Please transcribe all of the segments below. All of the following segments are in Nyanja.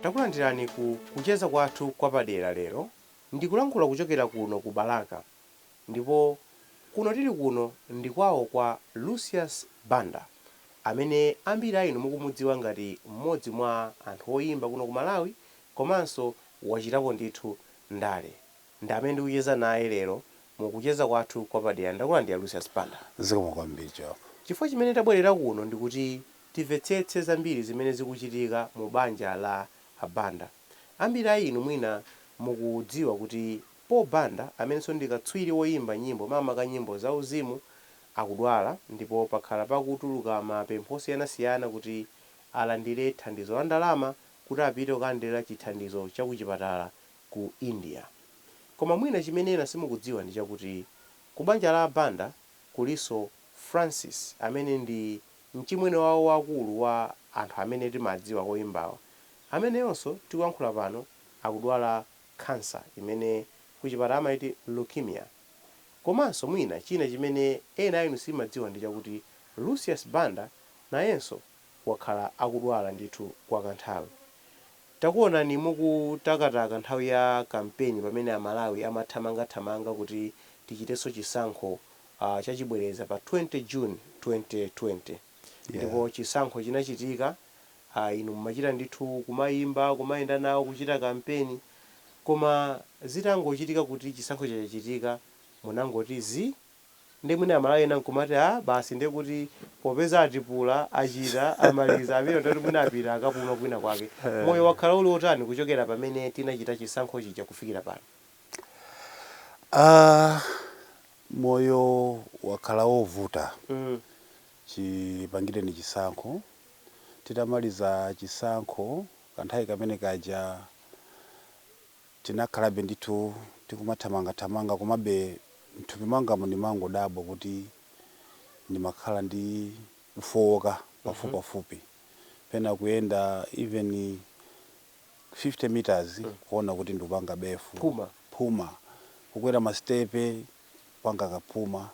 takulandirani ku kucheza kwathu kwapadera lero ndikulankhula kuchokera kuno ku balaka ndipo kuno tili kuno ndi kwawo kwa lucius banda amene ambiri a inu mukumudziwa ngati mmodzi mwa anthu oyimba kuno ku malawi komanso wachitapo ndithu ndale ndi amene ndikucheza naye lero mu kucheza kwathu kwa padera. Ndakulandira Lucius Banda. Zikomo kwambiri Jock. Chifukwa chimene tabwerera kuno ndi kuti timvetsetse zambiri zimene zikuchitika mu banja la a Banda. Ambiri a inu mwina mukudziwa kuti Paul Banda amenenso ndi katswiri woyimba nyimbo makamaka nyimbo za uzimu akudwala ndipo pakhala pakutuluka ma pempho osiyanasiyana kuti alandire thandizo la ndalama kuti apite kukalandira chithandizo cha kuchipatala ku India. Koma mwina chimene ena simukudziwa ndi chakuti ku banja la a Banda kulinso Francis amene ndi mchimwene wawo wakulu wa anthu amene timadziwa oyimbawa ameneyonso tikuyankhula pano akudwala khansa imene kuchipatala amayiti leukemia. Komanso mwina china chimene ena a inu simadziwa ndi chakuti Lucius Banda nayenso wakhala akudwala ndithu kwa kanthawi. Takuonani mukutakataka nthawi ya kampeni pamene a Malawi amathamangathamanga kuti tichitenso chisankho chachibwereza pa 20 June 2020. Ndipo chisankho chinachitika, inu mumachita ndithu kumayimba, kumayenda nawo, kuchita kampeni. Koma zitangochitika kuti chisankho chachachitika, munangoti zii. Ndiye mwina a Malawi ena nkumati aah basi ndiye kuti popeza atipula, achita, amaliza, apita ndiye kuti mwina apita akapuma kwina kwake. Moyo wakhala uli wotani kuchokera pamene tinachita chisankho chija kufikira pano? Aah moyo wakhala wovuta Mm. chipangireni chisankho. Titamaliza chisankho kanthawi kamene kaja Tinakhalabe ndithu tikumathamangathamanga komabe m'thupi mwangamu ndimangodabwa kuti ndimakhala ndi kufooka pafupipafupi. Pena kuyenda even 50 meters kuona kuti ndikupanga befu, Phuma. phuma. Kukwera masitepe kupanga kaphuma.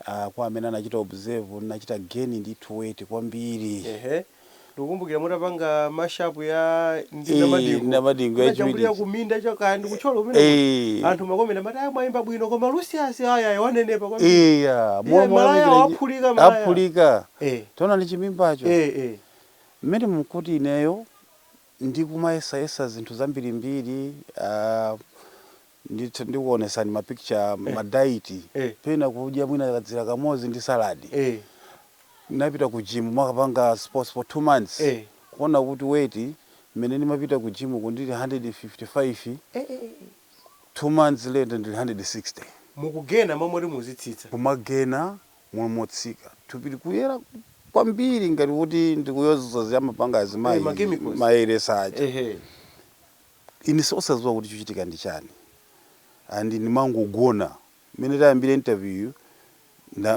ah, kwa amene anachita observe ndinachita gain ndi weight kwambiri ehe ndikukumbukira mutapanga ma show a Eh, ndindamadingo Ndindamadingo ya munajambulira Judith. kuminda chakaya ndikutcholo kumene Eh. anthu mmakomenti amati aya mwayimba bwino koma lucius aya wanenepa kwambiri iya Iye malaya waphulika, malaya. aphulika Eh. taonani chimimbacho eh eh mmene mkuti ineyo ndikumayesayesa zinthu zambirimbiri ah, ndithu ndikuonetsani ma picture Eh. ma diet Eh. pena kudya mwina kadzira kamodzi ndi salad Eh. ndinapita ku gym kukapanga sports for two months Eh. kuona kuti weight mmene ndimapita ku gym ku ndili 155 Eh, eh, eh. two months later ndili 160 mukugena momwe kuti muzitsitsa kumagena momwe m'malo motsika thupi likuyera kwambiri ngati kuti ndikudzola zija amapanga Eh, ma chemicals. azimayi zoyeretsa aja ehe Ine osaziwa kuti chikuchitika ndi chani and ndimangogona mmene tayambira interview yu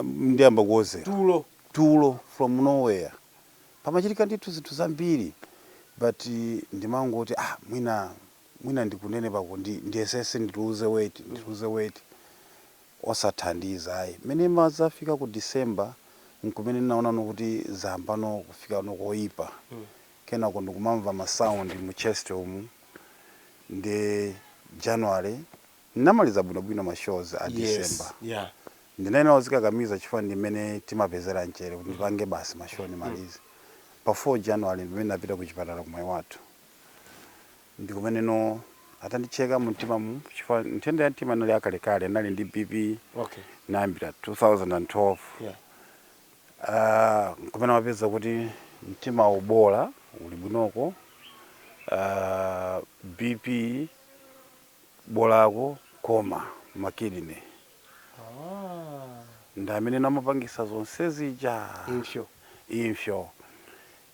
ndiyamba kuodzera tulo tulo from no where pamachitika ndithu zinthu zambiri but ndimangoti ah mwina mwina ndi kunenepaku ndiyesese ndiluze weight ndiluze weight osathandiza ayi mmene imadzafika ku December nkumene ndinaonano kuti zayambano kufikano koyipa kenako ndikumamva ma sound mu chest umu nde January ndinamaliza bwinobwino ma shows a December yes yeah ndinayenera kuzikakamiza chifukwa ndi mmene timapezera mchere kuti ndipange basi ma show ndimalize pa 4 January ndi mmene ndinapita ku chipatala ku Mwaiwathu ndi kumeneno atandicheka mu mtima mu chifukwa nthenda ya mtima inali yakalekale ndinali ndi BP okay kuyambira 2012 yeah Aaa nkumene anapeza kuti mtimawu bola uli bwinoko aaa BP bolako koma ma kidney ndi ameneno amapangitsa zonse zija Impso. impso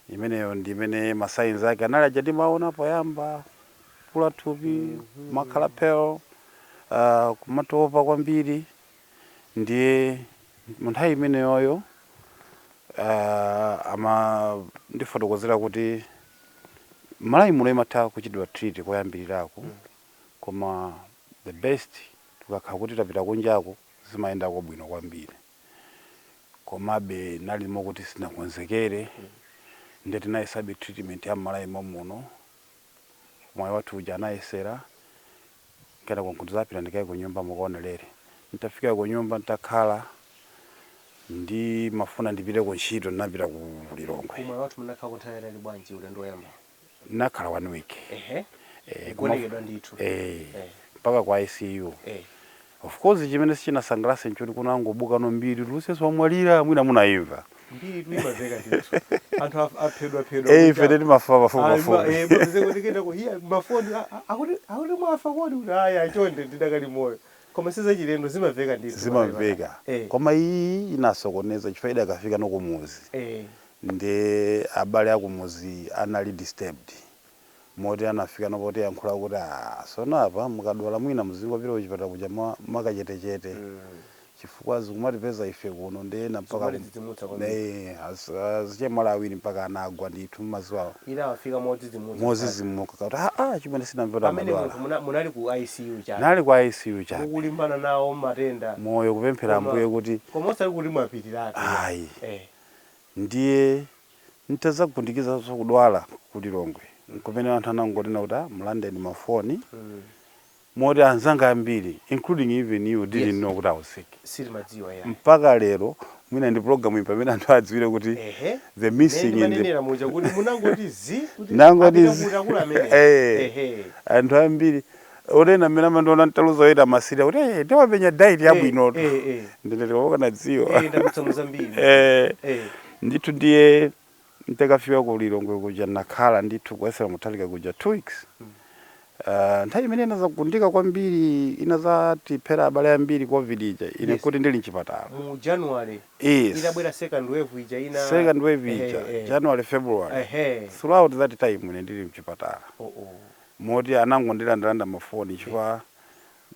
imeneyo ndi imene ma signs ake anali aja timaona poyamba kukula thupi kumakhala pale aaa kumatopa kwambiri ndiye munthawi imeneyoyo uh, amandifotokozera kuti m'Malawi muno imatha kuchitidwa treat koyambirirako mm. koma the best tikakhala kuti tapita kunjako zimayendako bwino kwambiri komabe nali mokuti sinakonzekere mm. nde tinayesabe treatment ya m'Malawi momuno ku Mwaiwathu kuja anayesera Kenako n'kudzapita ndikaye kunyumba mukaonelere. Nditafika kunyumba nditakhala, ndimafuna ndipite kuntchito, ndinapita ku Lilongwe. Komatu munakhalako nthawi yaitali bwanji ulendo woyambawo? Ndinakhala 1 week. Ehe, Eh, koma- kugonekedwa ndithu. Eh, Eh. mpaka ku ICU. Eh. Of course chimene sichinasangalatse nchoti kunangobukano mbiri kuti Lucius wamwalira mwina munaimva. Mbiri tu imamveka ndithu. Anthu af- aphedwa phedwa. Eh ife teti mafa pafupi Ah, ma- pafupi. eh, mapeze kuti kena ku- hiya, mafoni a- a- akuti akuti mwafa kodi kuti aya chonde ndidakali moyo koma sizachilendo zimamveka ndithu Zimamveka. Eh, Koma iyi inasokoneza chifukwa idakafika no kumudzi. eh, Nde abale akumudzi anali disturbed. moti anafikano potiyankhula kuti aah sono apa mukadwala mwina muzingopita kuchipatala kuja mwa, mwakachetechete chifukwa zikumatipeza ife kuno nde ena mpaka kum- Zikumatidzidzimutsa kwambiri. ne az- azichemwali awiri mpaka anagwa ndithu mmaziwawo ina afika modzidzimutsa modzidzimuka kuti aa achimwene sinamve kuti pamene munthu amadwala muna- munali ku ICU chani nali kwa ICU chani mukulimbana nawo matenda moyo kupemphera Koma- ambuye kuti koma osati kuti mwapitiratu Ayi. eh Ndiye n'tadzagundikizanso kudwala ku Lilongwe, n'kumene anthu anangonena kuti, ah, mulandeni mafoni, moti anzanga ambiri, including even you, didn't Yes. know kuti I was sick. Sitimadziwa yayi. Mpaka lero, mwina ndi program iyi pamene anthu adziwire kuti Ehe. the Mmene missing in the ndimanenera muja kuti munangoti zi kuti Nangoti apita zi- kuti akuluakulu amene. Eh. Ehe. anthu ambiri oti ena mmene amandiona ntaluza oyenda amasirira kuti "Eh, ndi wamenya diet yabwinotu eh, eh. ndinati wakanadziwa Eh, ndadutsa mu zambiri. Eh, Eh. ndithu ndiye ntakafika ku lilongwe kuja nakhala ndithu kuyesera kutalika kuja two weeks Ah, nthawi imene inadzagundika kwambiri inadzatiphera abale ambiri covid ija ine Yes. nkuti ndili mchipatala mu january Yes. itabwera second wave ija ija second wave ija Eh, eh. january february Ehe. throughout that time ine ndili mchipatala Oh, oh. moti anangondilandelanda ma phone chifukwa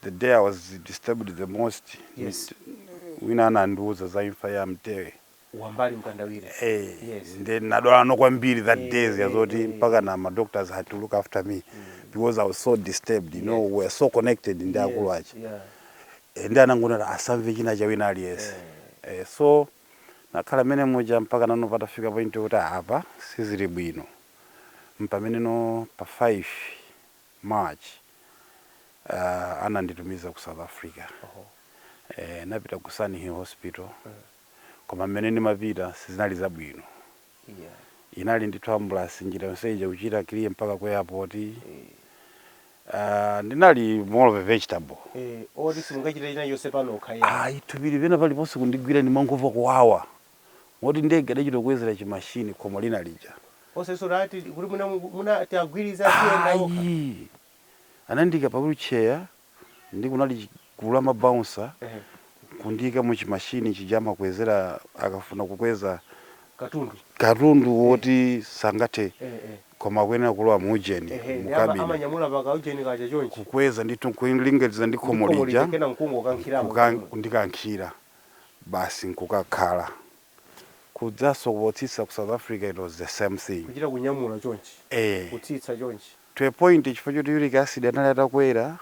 the day i was disturbed the most yes. wina anandiuza za imfa ya mtebe wambali mkandawire eh, yes. nde nadwalano kwambiri that eh, day yazoti eh, mpaka na ma doctors had to look after me mm. because i was so disturbed you yes. know we were so connected ndi yes. akulu aja yeah. Eh, nde anangonena asamve china cha wina aliyense eh. eh, so nakhala mmene muja mpaka nano patafika point yoti apa sizili bwino mpameneno pa 5 March uh, ananditumiza ku South Africa Oho. eh, napita ku Sunninghill Hospital koma mmene ndimapita sizinali zabwino Yeah. inali ndithu ambulasi njira yonse ija kuchita clear mpaka ku airport Eh. uh, ndinali more of a vegetable Eh, oti simungachite china chonse panokha ya. ayi thupi pali pena paliponse kundigwira ndimangomva kuwawa moti ndege anachita kukwezera chi machine pa khomo lina lija. Osesora ati kuti mwina mwina ati agwirize aziyenda okha. Ayi. Anandiika pa wheelchair nde kunali chi gulu la ma bouncer kundiika mu chi machine chija amakwezera akafuna kukweza Katundu. katundu woti sangathe koma akuyenera kulowa mu ujeni, mu Ehe. Ama- cabin. Amanyamula pa ka ujeni kaja chonchi. Kukweza ndithu nkulinganiza ndi Ndi khomo khomo lija lija kenako nkungokankhiramo. kuka- kundikankhira. basi nkukakhala. Kudzanso potsitsa ku South Africa it was the same thing. Kuchita kunyamula chonchi, Eeh. kutsitsa chonchi. To a point chifukwa choti uric acid anali atakwera,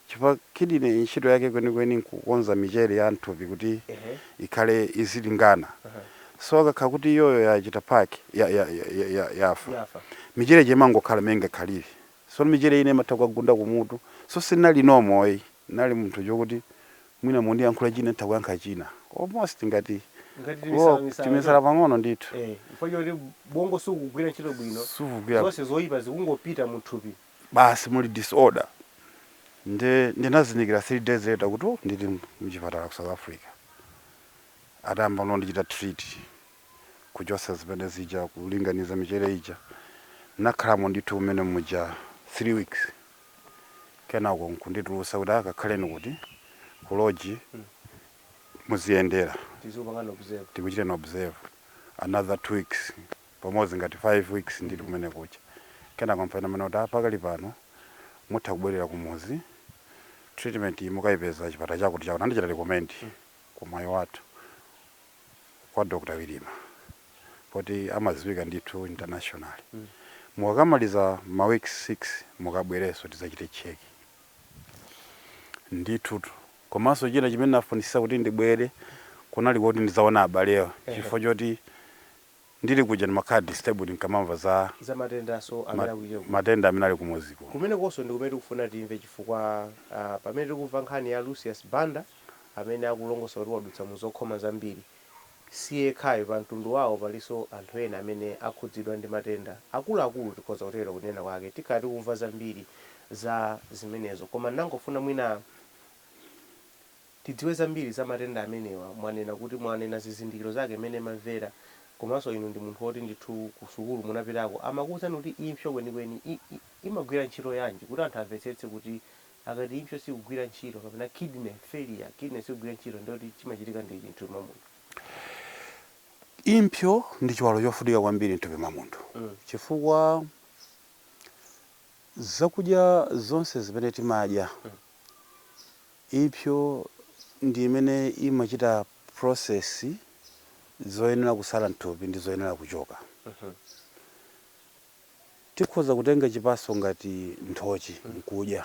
chifukwa kidney ntchito yake kwenikweni nkukonza michere ya mthupi kuti Eeh. ikhale izilingana. Eeh. So ikakhala kuti iyoyo yachita pack, ya, ya, ya, ya, ya, yafa, Yafa. michere ija imangokhala mmene ingakhalire. Sono michere ina imatha kukagunda kumutu. So sinali normal ayi. Ndinali munthu wokuti mwina mundiyankhule china nditha kuyankha china. Almost ngati Ngati kulowa timisala misala timisala choncho. pang'ono ndithu. Eh, chifukwa choti bongo sukugwira ntchito bwino. Sukugwira. Zonse zoipa zikungopita mu thupi. Basi muli disorder. Nde ndinazindikira 3 days later kuti oh ndili muchipatala ku South Africa. Atayamba kundichita treat. kuchotsa ziphe zija kulinganiza michere ija nakhalamo ndithu kumene muja 3 weeks kenako nkunditulutsa kuti ah kakhaleni kuti ku lodge muziyendera tikuchiteni observe another 2 weeks pamodzi ngati 5 weeks ndili kumene kuja kenako mpamene amanena kuti pakali pano mutha kubwerera kumudzi treatment iyi mukayipeza chipatala chakuti chakuti anandichita recommend ku Mwaiwathu kwa Dr Wirima poti amadziwika ndithu internationally mukamaliza ma week 6 mukabwerenso tidzachite check ndithutu komanso china chimene ndinafunitsitsa kuti ndibwere kunali koti ndidzaone abalewa chifukwa choti Ndili kuja ndimakhala disturbed ndikamamva za za matendanso ma amene akuchitika ku matenda amene ali kumudzi kuno. kumenekonso ndi kumene tikufuna timve chifukwa ah, pamene tikumva nkhani ya Lucius Banda amene akulongosola kuti wadutsa mu zokhoma zambiri, si yekhayo, pa mtundu wawo palinso anthu ena amene akhudzidwa ndi matenda akuluakulu tikhoza kutero kunena kwake, tikhala tikumva zambiri za zimenezo koma ndangofuna mwina. tidziwe zambiri za matenda amenewa mwanena kuti mwanena zizindikiro zake mmene mumamvera komanso inu ndi munthu woti ndithu ku sukulu munapitako amakuuzani kuti impsyo kwenikweni i i imagwira ntchito yanji kuti anthu amvetsetse kuti akati impsyo sikugwira ntchito kapena kidney failure kidney sikugwira ntchito ndiye kuti chimachitika ndi chiyani mthupi mwa munthu. Impsyo ndi chiwalo chofunika kwambiri mthupi mwa munthu chifukwa zakudya zonse zimene timadya Impso ndi imene imachita process zoyenera kutsala mthupi ndi zoyenera kuchoka. Tikhoza kutenga chipatso ngati nthochi nkudya.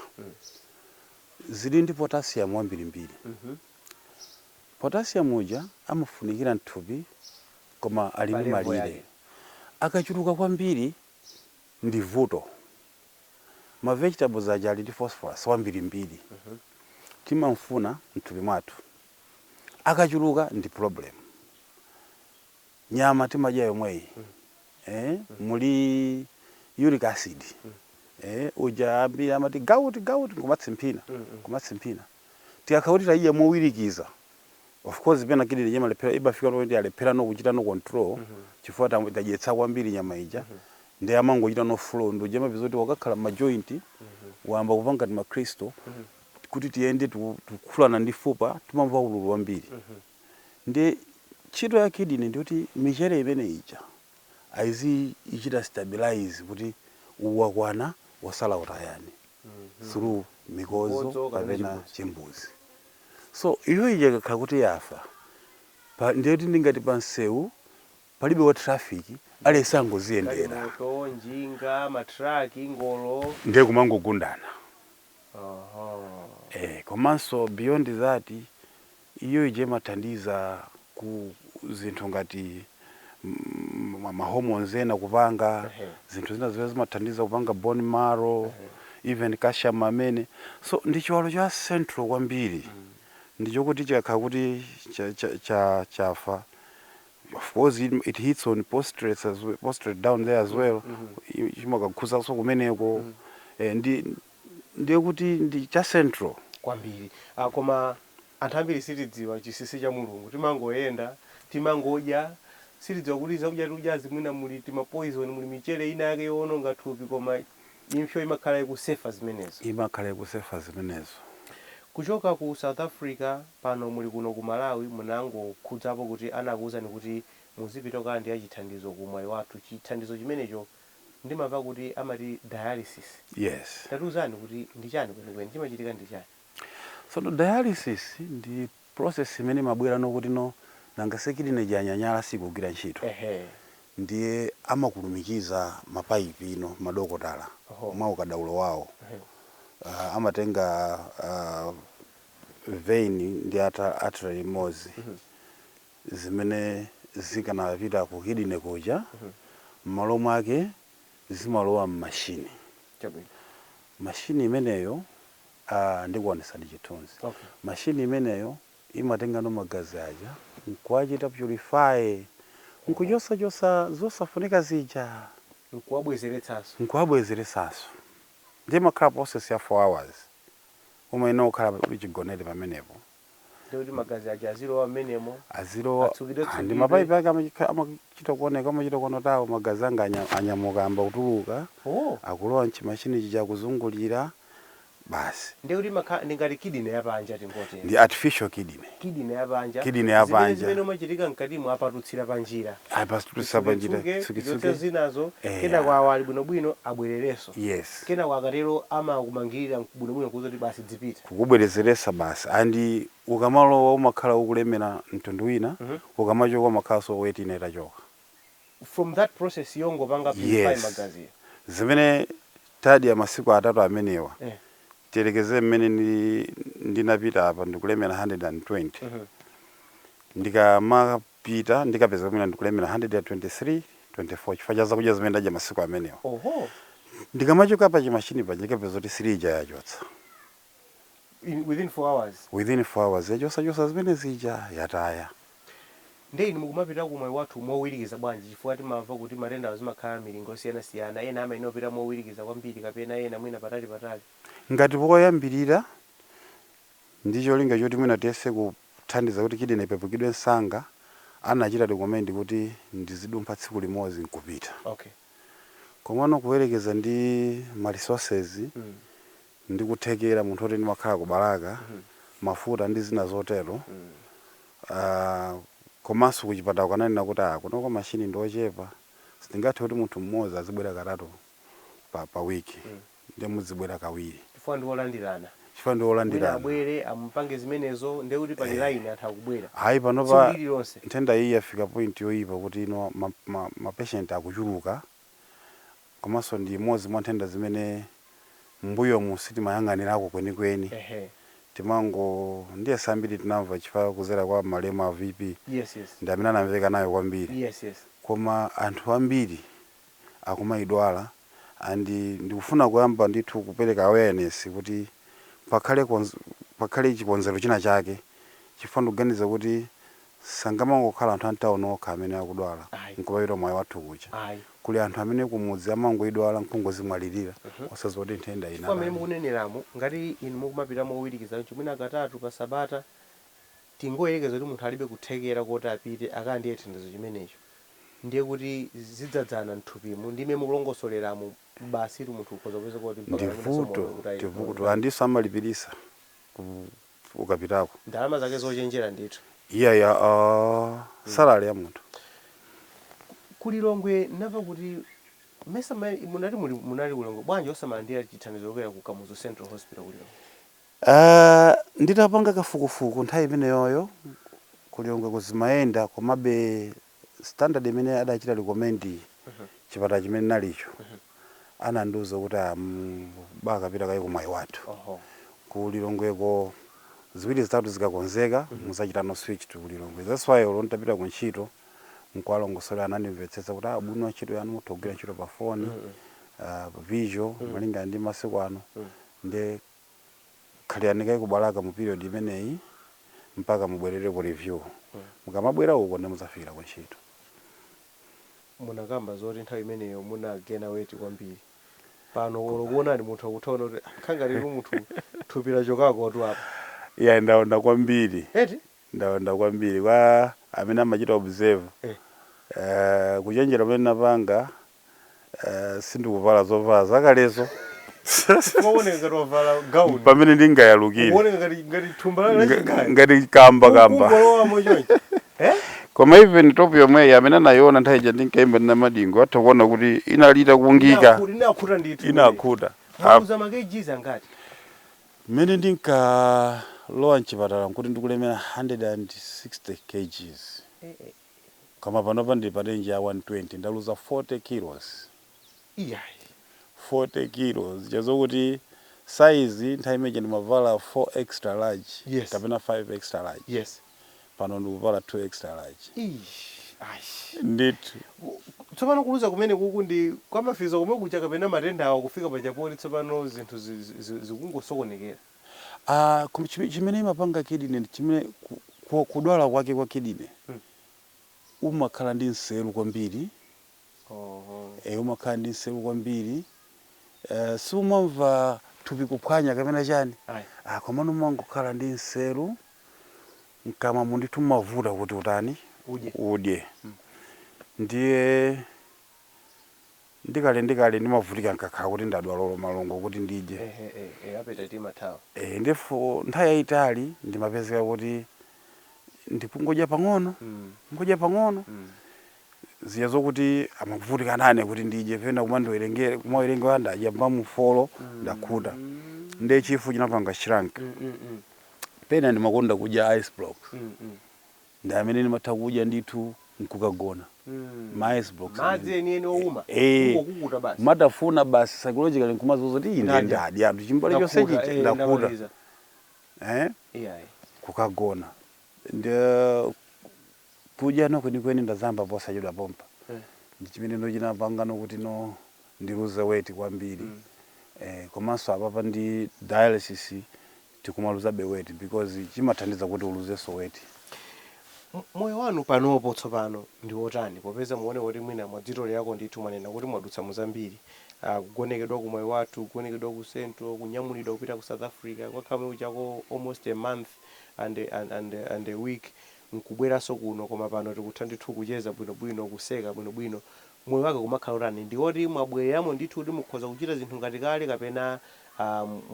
Zili ndi potassium wambirimbiri. Potassium uja amafunikira mthupi koma ali ndi malire. Akachuluka kwambiri ndi vuto. ma vegetables aja ali ndi phosphorus wambirimbiri timamfuna mthupi mwathu akachuluka ndi problem nyama timadya yomweyi eh, muli uric acid uja ambiri amati gout gout kumatsimphina kumatsimphina tikakhala kuti tayidya mowirikiza of course pena kidney ija imalephera imafika pamene kuti yalephera no kuchita no control chifukwa tam- tadyetsa kwambiri nyama ija ndi amangochita no flow ndi uje mapeza kuti wakakhala ma joint wayamba kumva ngati ma crystal kuti tiyende tiku- tikukhulana ndi fupa timamva ululu wambiri ndi ntchito ya kidney ndi kuti michere imene ija aizi ichita stabilize kuti uwu wakwana wotsala utayeni through mikodzo kapena chimbuzi. So, iyo ija ikakhala kuti yafa, pa, ndiye kuti ndingati pa msewu palibe wa traffic, aliyense angodziyendera. Galimoto, njinga, ma truck, ngolo. Ndiye kumangogundana. Oho. Eh, komanso beyond that, iyo ija imathandiza. ku zinthu ngati mm, ma- ma hormones ena kupanga Ehe. zinthu zina zimene zimathandiza kupanga bone marrow even calcium amene so ndi chiwalo cha central kwambiri ndi chokuti chikakhala kuti cha- cha- cha- chafa of course it, it hits on prostate as well, prostate down there as well mm -hmm. chimakakhudzanso kumeneko eh, ndi ndiye kuti ndi cha central. kwambiri. Koma anthu ambiri sitidziwa chinsinsi cha Mulungu. Timangoyenda, timangodya, sitidziwa kuti zakudya tikudyazi mwina muli tima poison, muli michere ina yake yowononga thupi koma impso imakhala ikusefa zimenezo. Kuchoka ku South Africa pano muli kuno ku Malawi munangokhudzapo kuti anakuuzani kuti muzipita kukalandira chithandizo ku Mwaiwathu, chithandizo chimenecho ndimamva kuti amati dialysis Yes. tatiuzani kuti ndi chani kwenikweni chimachitika ndi chani? Tsono dialysis ndi process imene imabwera no kuti no nanga si kidney ija yanyanyala sikugwira ntchito Ehe. ndiye amakulumikiza ma pipe ino madokotala Oho. mwa ukadaulo wawo Ehe. uh, amatenga uh, vein ndi ata- artery imodzi zimene zikanapita ku kidney kuja mmalo mwake zimalowa mmachine Chabwino. machine imeneyo ah, ndikuonetsani chithunzi Okay. machine imeneyo imatengano magazi aja nkuwachita purify nkuchosachosa zosafunika zija Nkuwabwezeretsanso. nkuwabwezeretsanso ndiye makhala process ya 4 hours umayenera kukhala pa- chigonere pamenepo ndikuti magazi aja azilowa mmenemo azilowa atsukidwe ah, ndi mapaipi ake amachika- amachita kuoneka amachita kuona tawo magazi anga anya- anyamuka ayamba kutuluka oh akulowa mchimashini chija akuzungulira basi ndikuti makha ndi ngati kidney yapanja tingotero ndi artificial kidney kidney yapanja Kidney zimene yapanja. zimene zimachitika mkatimo apatutsira panjira ayi pasitutisa panjira Tsuke, tsuke, tichotse tsuke. zinazo Eh, kenaka. kwawo ali bwinobwino abwererenso Yes. Kenako akatero amakumangilira bwinobwino kukuuza kuti basi dzipita. Kukubwerezeresa basi and ukamalowa umakhala wokulemera mtundu wina ukamachoka umakhalanso weight ina itachoka. From that process yongopanga purify Yes. magaziyo. Zimene tadya masiku atatu amenewa Eh. tiyerekeze mmene ndi- ndinapita apa ndikulemera 120 ndikama pita ndikapeza kuti mwina ndikulemera 123, 24 chifukwa cha zakudya zimene ndadya masiku amenewo. Ndikamachoka pa chimashini paja ndikapeza kuti 3 ija yachotsa. In, within 4 hours? Within 4 hours yachosachotsa zimene zija yataya. Nde inu mukumapita ku Mwaiwathu mowirikiza bwanji chifukwa timamva kuti matendawa imakhala milingo yosiyanasiyana, ena amayenera kupita mowirikiza kwambiri kapena ena mwina patali patali? Ngati poyambirira Ndi cholinga choti mwina tiyese kuthandiza kuti kidney ipepukidwe msanga, anachita recommend kuti ndizidumpha tsiku limodzi n'kupita. Okay. Komano kuyerekeza ndi ma resources ndi kuthekera, munthu woti ndimakhala ku Balaka, mafuta ndi zina zotero, aah komanso kuchipatalaku ananena kuti aah kunoko machine ndi ochepa, sitingathe kuti munthu mmodzi azibwera katatu pa pa week. nde mudzibwera kawiri. chifukwa ndi olandirana. chifukwa ndi olandirana. Wina abwere amupange zimenezo nde kuti pali eh, line anthu akubwera. Ayi panopa nthenda iyi yafika point yoyipa kuti ino ma, ma, ma patient akuchuluka komanso ndi imodzi mwa nthenda zimene mbuyomu sitimayang'anirako kwenikweni timango ndiyesa ambiri tinamva chifukwa kuzera kwa malemu a VP yes, yes. ndi amene anamveka nayo kwambiri yes, yes. koma anthu ambiri akumaidwala and ndikufuna kuyamba ndithu kupereka awareness kuti pakhale konz pakhale chikonzero china chake chifukwa ndikuganiza kuti sangamangokhala anthu a mtown okha amene akudwala Ayi. nkumapita ku Mwaiwathu kuja Ayi. kuli anthu amene kumudzi amangoidwala nkungozimwalirira Mhm. osadziwa kuti nthenda chifukwa mmene inu mukuneneramo ngati inu mukumapita mowirikiza choncho mwina katatu pa sabata Tingoyerekeza kuti munthu alibe kuthekera koti apite akalandire chithandizo chimenecho, ndiye kuti zidzadzana mthupimo, ndi mmene mukulongosoleramo basitu munthu ukhoza kupezeka kuti mpakana Ndi mwinanso moyo vuto, ukhoza kutayika. ndi vuto. Moyo. Andinso amalipiritsa ku ukapitako. Ndalama zake zochenjera ndithu. Iyayi aa, Mm. salary ya munthu. Ku ku Lilongwe ndinamva kuti mesa mmene munati muli munali ku Lilongwe bwanji osamalandira chithandizo kuchokera ku Kamuzu Central Hospital ku Lilongwe? Aaa nditapanga kafukufuku nthawi imeneyoyo ku Lilongweko zimayenda komabe standard yimene adachita recommend chipatala chimene ndinali nacho anandiuza kuti ah bakapita kaye ku Mwaiwathu ku Lilongweko ziwiri zitatu zikakonzeka mudzachita no switch to Lilongwe that's why olo nditapita ku ntchito n'kuwalongosolera anandimvetsetsa kuti ah ubwino wa ntchito yanu mutha kugwira ntchito pa phone ah virtual malingana ndi masiku ano nde khalani kaye ku Balaka mu period imeneyi mpaka mubwerere ku review. Mukamabwera uko nde mudzafikira ku ntchito. munakamba zoti nthawi imeneyo muna gaina weight kwambiri pano olo kuonani munthu akuthaona kuti "Ah, kukhala ngati tu munthu thupi lachokako tu apa Iyayi ndaonda kwambiri. eti Ndaonda kwambiri kwa amene amachita observe. eh, Eh, kuchenjera pamene ndinapanga eh, sindikuvala zovala zakalezo Ukaoneka ngati wavala gauni. pamene ndingayalukire Uoneka ngati ngati thumba la Nga- chigari. ngati kamba kamba Ukungolowamo chonchi. Eh? koma even top yomweyi amene anayiona nthawi ija ndinkaimba ndina madingo atha kuona kuti inali itakungika Inakhu- Inakhuta ndithu. inakhuta Ah, Mwaluza makejizi angati? mmene ndinkalowa mchipatala nkuti ndikulemera 160 kgs Eh, eh. koma panopa ndili pa range ya 120 ndaluza 40 kilos iyayi 40 kilos zija zokuti size nthawi imene ija ndimavala 4 extra large Yes. kapena 5 extra large yes pano ndikuvala 2 extra large Eish, ayi ndithu tsopano kuluza kumeneku ndi kwa ma physio komwe kuja kapena matenda awa kufika pachapoli tsopano zinthu zi- zi- zi- zikungosokonekera Ah, koma chime- chimene imapanga kidney ndi chimene ku- ku- kudwala kwake kwa kidney umakhala ndi nseru kwambiri Oho. e, umakhala ndi nseru kwambiri e, sumamva thupi kuphwanya kapena chani Ayi. ah, komano umangokhala ndi nseru mkamwamu ndithu mumavuta kuti utani Udye. udye ndiye ndi kale ndi kale ndimavutika nkakhala kuti ndadwala olo malungo kuti ndidye ehe eh, eh, appetite imathawa e, ndithu nthawi yayitali ndimapezeka kuti ndikungodya pang'ono Mm, ngodya pang'ono mm. zija zokuti amavutika nane kuti ndidye pena kumandiwerengere kumawerengera ndadya mbamufolo ndakhuta Mm, nde chifu chinapanga shrank mm, mm, mm, pena ndimakonda kudya ice blocks mm, mm. ndi amene ndimatha kudya ndithu nkukagona ma ice blocks madzi amene. enieni owuma Eh. kungokukuta basi kumatafuna basi psychologically nkumadziuza kuti ine Ndadya. ndadya anthu chimbale Ndakhuta, chonse chija eh, ndakhuta ndamaliza. eh Iyayi. kukagona ndiye kudya no kwenikweni ndayamba posachedwa pompa Eh. ndi chimene no chinapanga no kuti no ndiluze weight kwambiri eh komanso apapa ndi dialysis tikumaluzabe weight because imathandiza kuti uluzenso weight. M moyo wanu panopo tsopano ndi wotani popeza mukuoneka kuti mwina mwadzitolerako ndithu mwanena kuti mwadutsa mu zambiri, ah kugonekedwa ku Moyowathu, kugonekedwa ku central, kunyamulidwa kupita ku South Africa kukakhala komwe kujako almost a month and and and and a week nkubweranso kuno koma pano tikutha ndithu kucheza bwinobwino kuseka bwinobwino moyo wake umakhala otani? Ndi oti mwabwereramo ndithu kuti mukhoza kuchita zinthu ngati kale kapena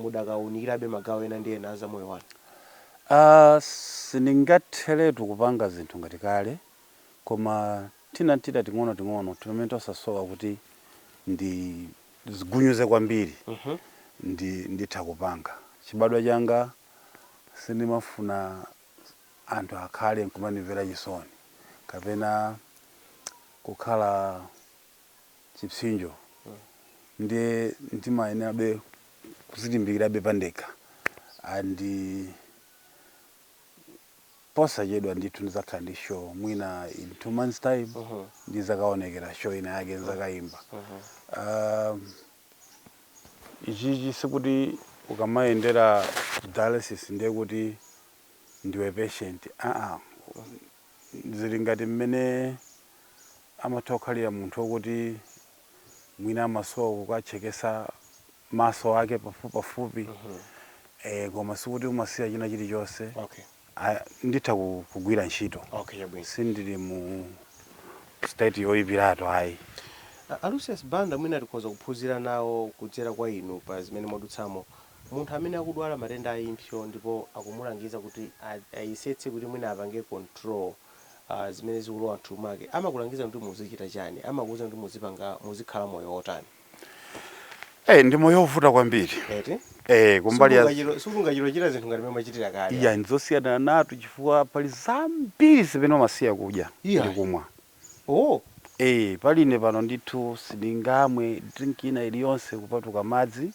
mudakaunikirabe magawo ena ndi ena a za moyo wanu? A. Sindingatheretu kupanga zinthu ngati kale, koma tina n'tita ting'onoting'ono timamene tosasowa kuti ndizigunyuze kwambiri ndi nditha kupanga. Chibadwa changa sindimafuna anthu akhale nkumandimvera chisoni kapena kukhala chipsinjo ndiye ndimayenerabe kuzilimbikirabe pandekha and posachedwa ndithu ndizakhala ndi show mwina in two months time ndizakaonekera show ina yake nzakaimba um, ichichi sikuti ukamayendera ku dialysis ndiye kuti ndiwe patient aa zili ngati mmene amatha kukhalira munthu wokuti mwina amasowa kukatchekesa maso ake pafupipafupi eh, koma sikuti umasiya china chilichonse Okay. A, nditha ku- kugwira ntchito Okay, chabwino. sindili mu state yoyipiratu ayi A- a Lucius Banda mwina tikhoza kuphunzira nawo kudzera kwa inu pa zimene mwadutsamo. Munthu amene akudwala matenda a impso ndipo akumulangiza kuti a- ayesetse kuti mwina apange control ah, zimene zikulowa mthupi mwake amakulangiza kuti muzichita chani amakuuza kuti muzipanga muzikhala moyo wotani Eh, ndi moyo wovuta kwambiri eti eh, kumbali ya Sungachiro- sungachiro chita zinthu ngati mmene mmachitira kale iya ndizosiyaniranatu chifukwa pali zambiri zimene umasiya kudya Iya. ndi kumwa oh Eh, pali ine pano ndithu sindingamwe drink ina iliyonse kupatula madzi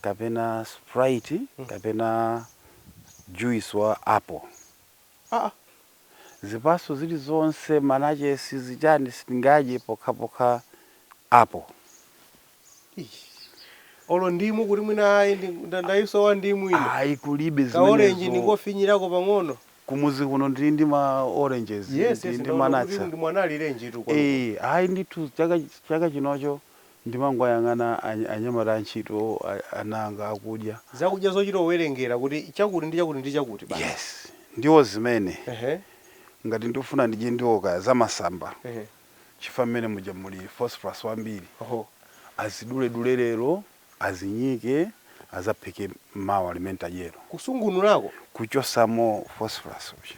kapena sprite kapena juice wa apple aa zipaso zilizonse mananazi zichani sitingadye pokhapokha apple Eish. olo ndimu kuti mwina ayi ndi- nda- ndayisowa ndimu ine ayi kulibe ka orange zimenezo ndingofinyirako pang'ono kumuzi kuno ndili ndi ma oranges yes ndili yes ndi ndaona kuti mananazi ndi mwana alirenji tu kwanuko ee ayi ndithu chaka chaka chinocho Ndimangoyang'ana anyamata antchito ana anga akudya. Zakudya zochita kuwerengera kuti chakuti ndi chakuti ndi chakuti basi. Yes. Ndiwo zimene. Ehe. Ngati ndikufuna ndidye ndiwo kaya zamasamba. Ehe. Chifukwa mmene muja muli phosphorous wambiri. Oho. Aziduledule lero, azinyike, azaphike mawa limene ntadyero. Kusungunurako? Kuchosamo phosphorous uja.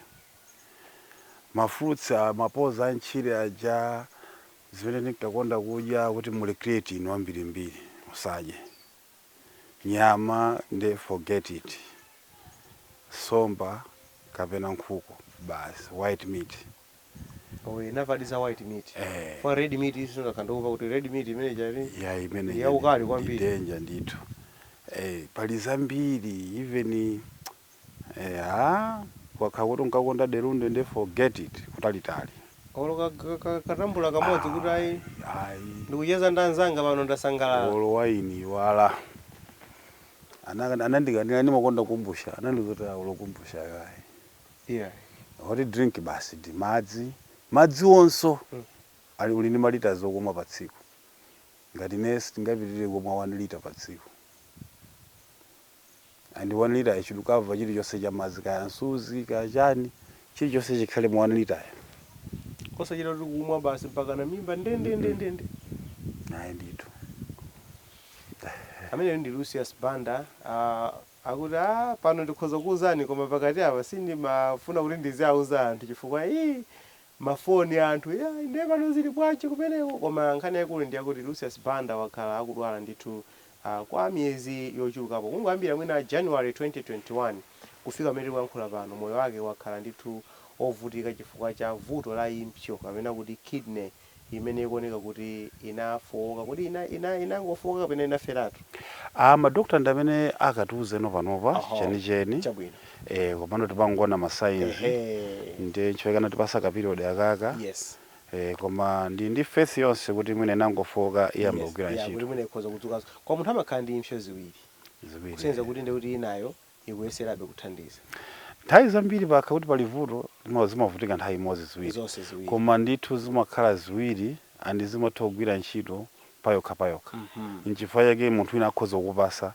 Ma fruits a mapoza amtchire aja, Zimene ndinkakonda kudya kuti muli creatinine wambirimbiri musadye nyama nde forget it nsomba kapena nkhuku basi white meat Oh, eh, ndamvadi za white meat. Eh. Koma red meat yes ndakhala ndikumva kuti red meat imene chali. ya imene Ndi yaukali kwambiri. danger ndithu eh, pali zambiri even Eya, ukakhala kuti unkakonda Delunde nde forget it kutalitali. Olo ka- ka- ka- katambula kamodzi kuti ayi Ayi. ndikucheza ndi anzanga pano ndasangalala. Olo waini wala. Ana anandikanira ndimakonda kombucha. Anandiuza kuti olo kombucha ayi. Yeah. Oti drink basi ndi madzi. Madzi onso Mm. ali uli ndi malita okumwa pa tsiku. Ngati ine sindingapitirire kumwa 1 lita pa tsiku. and 1 lita yachuluka apa chilichonse cha madzi kaya msuzi kaya chani chilichonse chikhale mu 1 lita ya osachita kuti kumwa basi mpakana mimba ndendendendende ayi ndithu ameneyo ndi lucius banda ah, akuti ah, pano ndikhoza kukuuzani koma pakati apa sindimafuna kuti ndiziauza anthu chifukwa ii mafoni anthu "Ya, ndiye pano zili bwanji kumeneko koma nkhani yaikulu ndi yakuti lucius banda wakhala akudwala ndithu a Kwa miyezi yochulukapo, kungoyambira mwina January 2021 kufika pamene tikuyankhula pano, moyo wake wakhala ndithu wovutika chifukwa cha vuto la impso kapena kuti kidney imene ikuoneka kuti inafooka. Kodi ina ina inangofooka kapena inaferatu? A Ma doctor ndi amene akatiuzeno panopa Oho, chenicheni. chabwino. Eh, komano timangoona ma signs. Ehe. Ndiye nchifukwa chake anatipatsa ka period akaka. Yes. Eh koma ndili ndi faith yoonse kuti mwina inangofooka iyambanso Yes, kugwira yeah, kuti ntchito. mwina ikhoza kudzukanso. Koma munthu amakhala ndi impso ziwiri. Ziwiri Kusonyeza ehe. kuti ndiye kuti inayo ikuyeserabe kuthandiza. Nthawi zambiri pakakhala kuti pali vuto tima zimavutika nthawi imodzi ziwiri. Zonse ziwiri. Koma ndithu zimakhala ziwiri and zimatha kugwira ntchito payokha payokha nchifukwa chake munthu wina akhoza kukupasa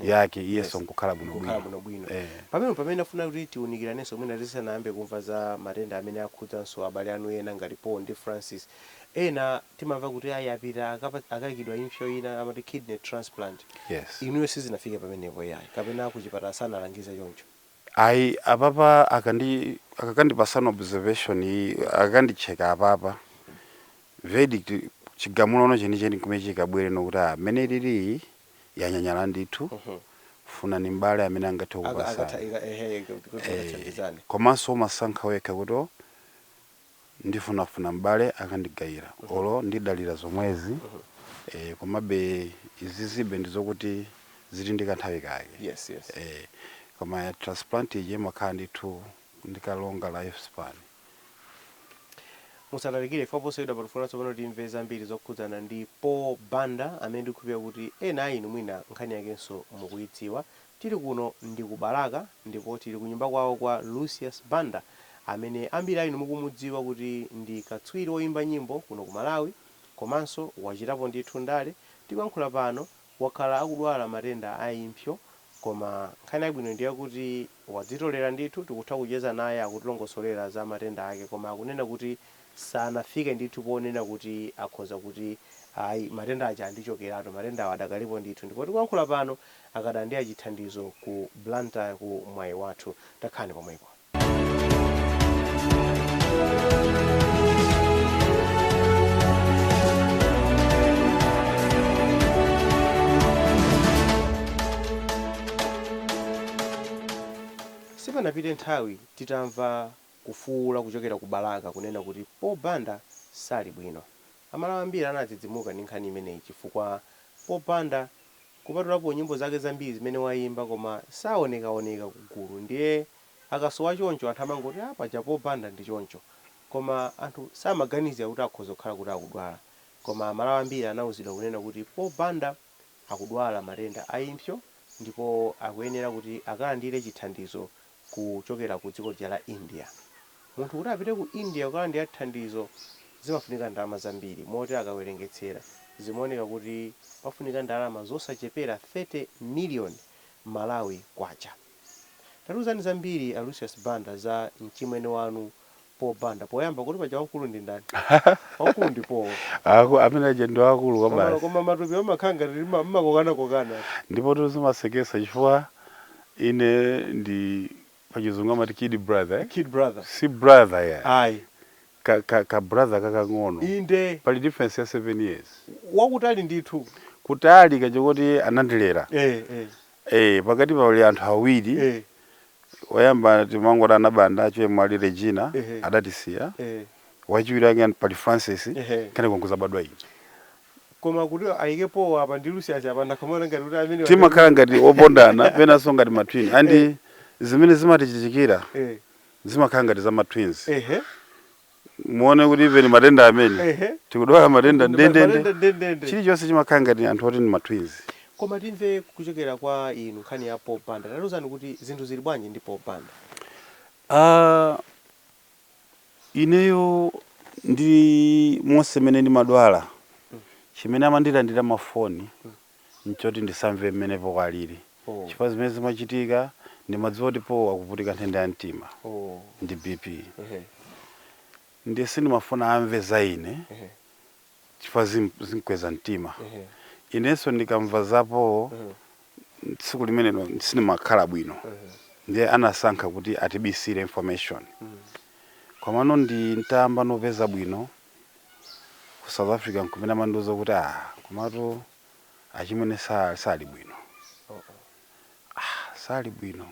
yake iyenso nkukhala bwino kukhala bwino bwinobwino eh pamene pamene afuna kuti tiunikiranenso mwina tisanayambe kumva za matenda amene akhudzanso abale anu ena ngati Paul ndi Francis ena timamva kuti ayi apita akapa- akaikidwa impsyo ina amati kidney transplant yes inuyo sizinafike pamenepo yayi kapena kuchipatala sanalangize choncho Ayi, apapa akandi akakandipasano observation iyi akakandicheka apapa verdict chigamulono chenicheni kumene chikabwere ndi kuti ah mmene ilili iyi yanyanyala ndithu funani m'bale amene angathe Aka- akatha kukupasani ika- ehe, kuti eh, akathandizane. komanso umasankha wekha kuti oh, ndifunafuna m'bale akandigayira or ndidalira zomwezi eh, komabe izizibe ndizokuti zili ndi kanthawi kake Yes, yes. eh, koma ya transplant ije imakhala ndithu ndi ka longer life span musatalikire ife posachedwapa tifuna tsopano timve zambiri zokhudzana ndi Paul Banda amene ndikukhulupirira kuti ena a inu mwina nkhani yakenso mukuyidziwa Tili, kuno ndi ku Balaka ndipo tili kunyumba kwawo kwa Lucius Banda amene ambiri a inu mukumudziwa kuti ndi katswiri oyimba nyimbo kuno ku Malawi komanso wachitapo ndithu ndale, tikuyankhula pano wakhala akudwala matenda a impsyo koma nkhani yabwino ndiyakuti wadzitolera ndithu tikutha kucheza naye akutilongosolera za matenda ake koma akunena kuti sanafike ndithu ponena kuti akhoza kuti ayi matenda aja andichokeratu, matendawo adakalipo ndithu ndipo tikuyankhula pano akulandira chithandizo ku Blantyre ku Mwaiwathu. Takhalani pomwepo. Sipanapite nthawi titamva Kufuula kuchokera ku Balaka kunena kuti Paul Banda sali bwino. Amalawi ambiri anadzidzimuka ndi nkhani imeneyi chifukwa Paul Banda kupatulapo nyimbo zake zambiri zimene wayimba koma sawonekawoneka ku gulu ndiye akasowa choncho anthu amangoti ah paja Paul Banda ndi choncho koma anthu samaganizira kuti akhoza kukhala kuti akudwala koma amalawi ambiri anauzidwa kunena kuti Paul Banda akudwala matenda a impsyo ndipo akuyenera kuti akalandire chithandizo kuchokera ku dziko lija la India. Munthu kuti apite ku India kukalandira thandizo zimafunika ndalama zambiri moti akawerengetsera zimaoneka kuti pafunika ndalama zosachepera 30 million Malawi Kwacha. Tatiuzani zambiri a Lucius Banda za mchimwene wanu Paul Banda poyamba kuti paja wamkulu ndi ndani? Wamkulu ndi Paul. Aku- amene aja ndi akulu Koma basi koma matupi amakhala ngati lima- mumakokana kokana. ndipotu zimaseketsa chifukwa ine ndi pachizungu amati kid brother eh? Kid brother. si brother ya Ayi. ka, ka, ka brother kakang'ono Inde. pali difference ya 7 years Wakutali ndithu. kutali kochokuti anandilera Eh eh. Eh, pakati pali anthu awiri eh, oyamba timangoti a Nabanda chemwali Regina Ehe. adatisiya eh. wachiwiri wake pali Francis Ehe. kenako nkudzabadwa ine koma kuti ayike powa apa ndi Lucius apa ndakhala ndikuona ngati kuti amene timakhala ngati opondana penanso ngati matwin and zimene zimatichitikira eh, zimakhala ngati za matwins ehe muone kuti even matenda amene Ehe. tikudwala matenda ndendende Matenda ndendende. chilichonse chimakhala ngati anthu oti ndi matwins koma timve kuchokera kwa inu nkhani ya Paul Banda tatiuzani kuti zinthu zili bwanji ndi Paul Banda Ah, ineyo ndi monse mmene ndimadwala chimene amandilandila mafoni nchoti ndisamve mmene Paul alili Oh. chifukwa zimene zimachitika ndimadziwa kuti Paul akuvutika nthenda ya mtima Oh. ndi bp Ehe. ndiye sindimafuna amve za ine Ehe. chifukwa zim- zimkweza mtima Ehe. inenso ndikamva za Paul Ehe. tsiku limenelo sindimakhala bwino Ehe. ndiye anasankha kuti atibisire information Mm. komano nditayamba nopeza bwino ku South Africa nkumene amandiuza kuti a ah, komatu achimwene sali bwino ah, sali bwino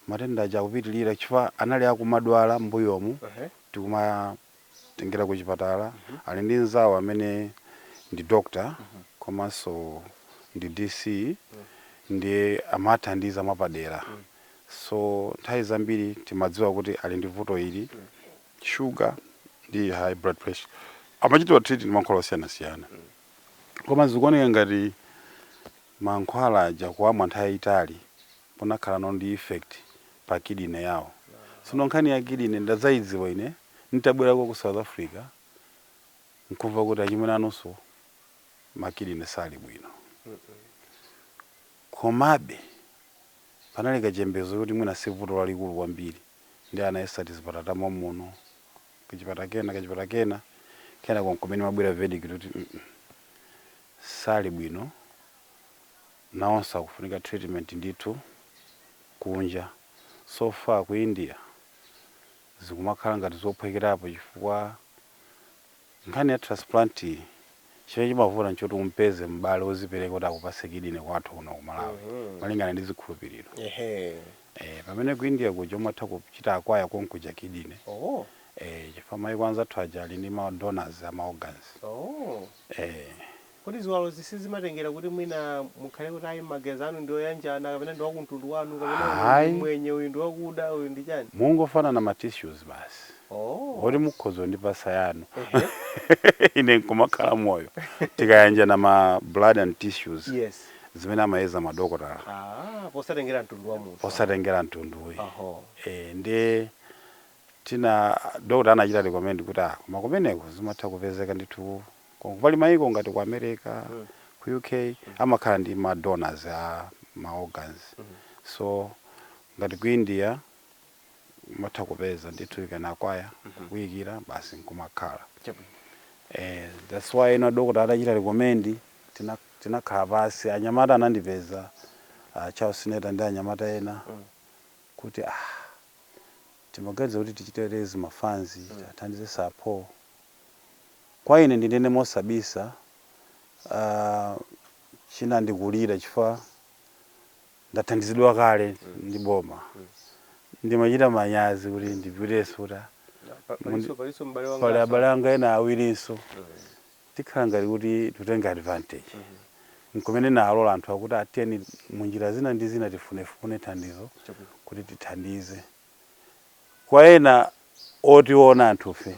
matenda aja akupitirira chifukwa anali akumadwala mmbuyomu uh -huh. tikumatengera ku chipatala uh mhm. -huh. ali ndi mzawo amene ndi doctor uh mhm. -huh. komanso ndi dc uh mhm. -huh. ndiye amathandiza mwapadera uh -huh. so nthawi zambiri timadziwa kuti ali ndi vuto ili uh -huh. shuga ndi high blood pressure amachitidwa treat ndi mankhwala osiyanasiyana koma zikuoneka ngati mankhwala aja kuwamwa nthawi yayitali kunakhalano ndi effect pa kidney yawo sono nkhani ya kidney ndadzayidziwa ine nitabwerako ku South Africa nkumva kuti achimwene anunso makidney sali bwino komabe panali kachembezo kuti mwina si vuto lalikulu kwambiri ndiye anayesa tizipatala ta momuno kachipatala kena kachipatala kena kenako nkumene imabwera verdict kuti mm -mm, sali bwino nawonso akufunika treatment ndithu kunja so far ku India zikumakhala ngati zophwekerapo chifukwa Nkhani ya transplant chimene chimavuta nchoti umpeze m'bale ozipereka kuti akupatse kidney kwathu kuno ku Malawi malingana ndi zikhulupiriro eeh pamene ku India kuja umatha kuchita acquire konkuja kidney eeh chifukwa maiko anzathu aja ali ndi ma donors a ma organs eeh. Kodi ziwalozi sizimatengera kuti mwina mukhale kuti ayi magazi anu ndi oyanjana kapena ndi wakumtundu wanu kapena uyu ndi Ayi. mmwenye uyu ndi wakuda uyu ndi chani? Mungofanana ma tissues basi. Oh. Oti mukhoza kundipatsa yanu. Ehe. Ine nkumakhala moyo. Tikayanjana ma blood and tissues Yes. zimene amayeza madokotala Ah, posatengera mtundu wa munthu. osatengera mtundu ayi. Oho. Eh, ndiye ndi- na dokotala anachita recommend kuti ah koma kumeneko zimatha kupezeka ndithu Koma pali maiko ngati ku America, ku UK amakhala ndi ma donors a ma organs. So ngati ku India umatha kupeza ndithu you can acquire kuikidwa basi nkumakhala. Chabwino. Eh that's why dokotala atachita recommend tina tinakhala pansi anyamata anandipeza a Charles Neta ndi anyamata ena kuti ah timaganiza kuti tichite raise ma funds athandize Sir Paul Kwa ine ndinene mosabisa uh, chinandikulira chifukwa ndathandizidwa kale ndi boma ndimachita manyazi kuti ndipitenso kuti ah, Pa- mundi- palinso palinso m'bale wanga pali abale anga ena awirinso tikhala ngati kuti tutenga advantage nkumene ndinawalola anthu akuti ah tiyeni munjira zina ndi zina tifunefune thandizo Chabwino. kuti tithandize Kwa ena otiona anthufe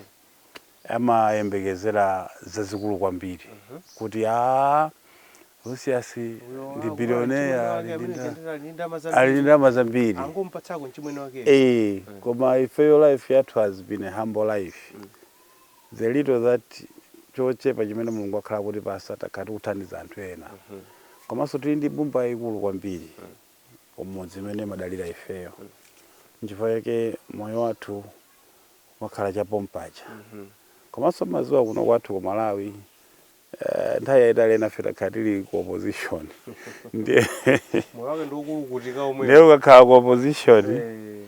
amayembekezera zazikulu kwambiri kuti aa Lucius ndi billionaire ali ndi nda- ali ndi ndalama zambiri angompatsako mchimwene wake Eh, koma ifeyo life yathu has been a humble life the little that chochepa chimene Mulungu wakhala akutipatsa takhala tikuthandiza anthu ena komanso tili ndi mbumba yaikulu kwambiri kumudzi imene imadalira ifeyo nchifukwa chake moyo wathu umakhala cha pompaja komanso mumadziwa kuno kwathu ku Malawi eh, nthawi yayitali enafe takhala tili ku opposition ndiye moyo wake ndi wokulukutika womwewo ndiye ukakhala ku opposition Eh,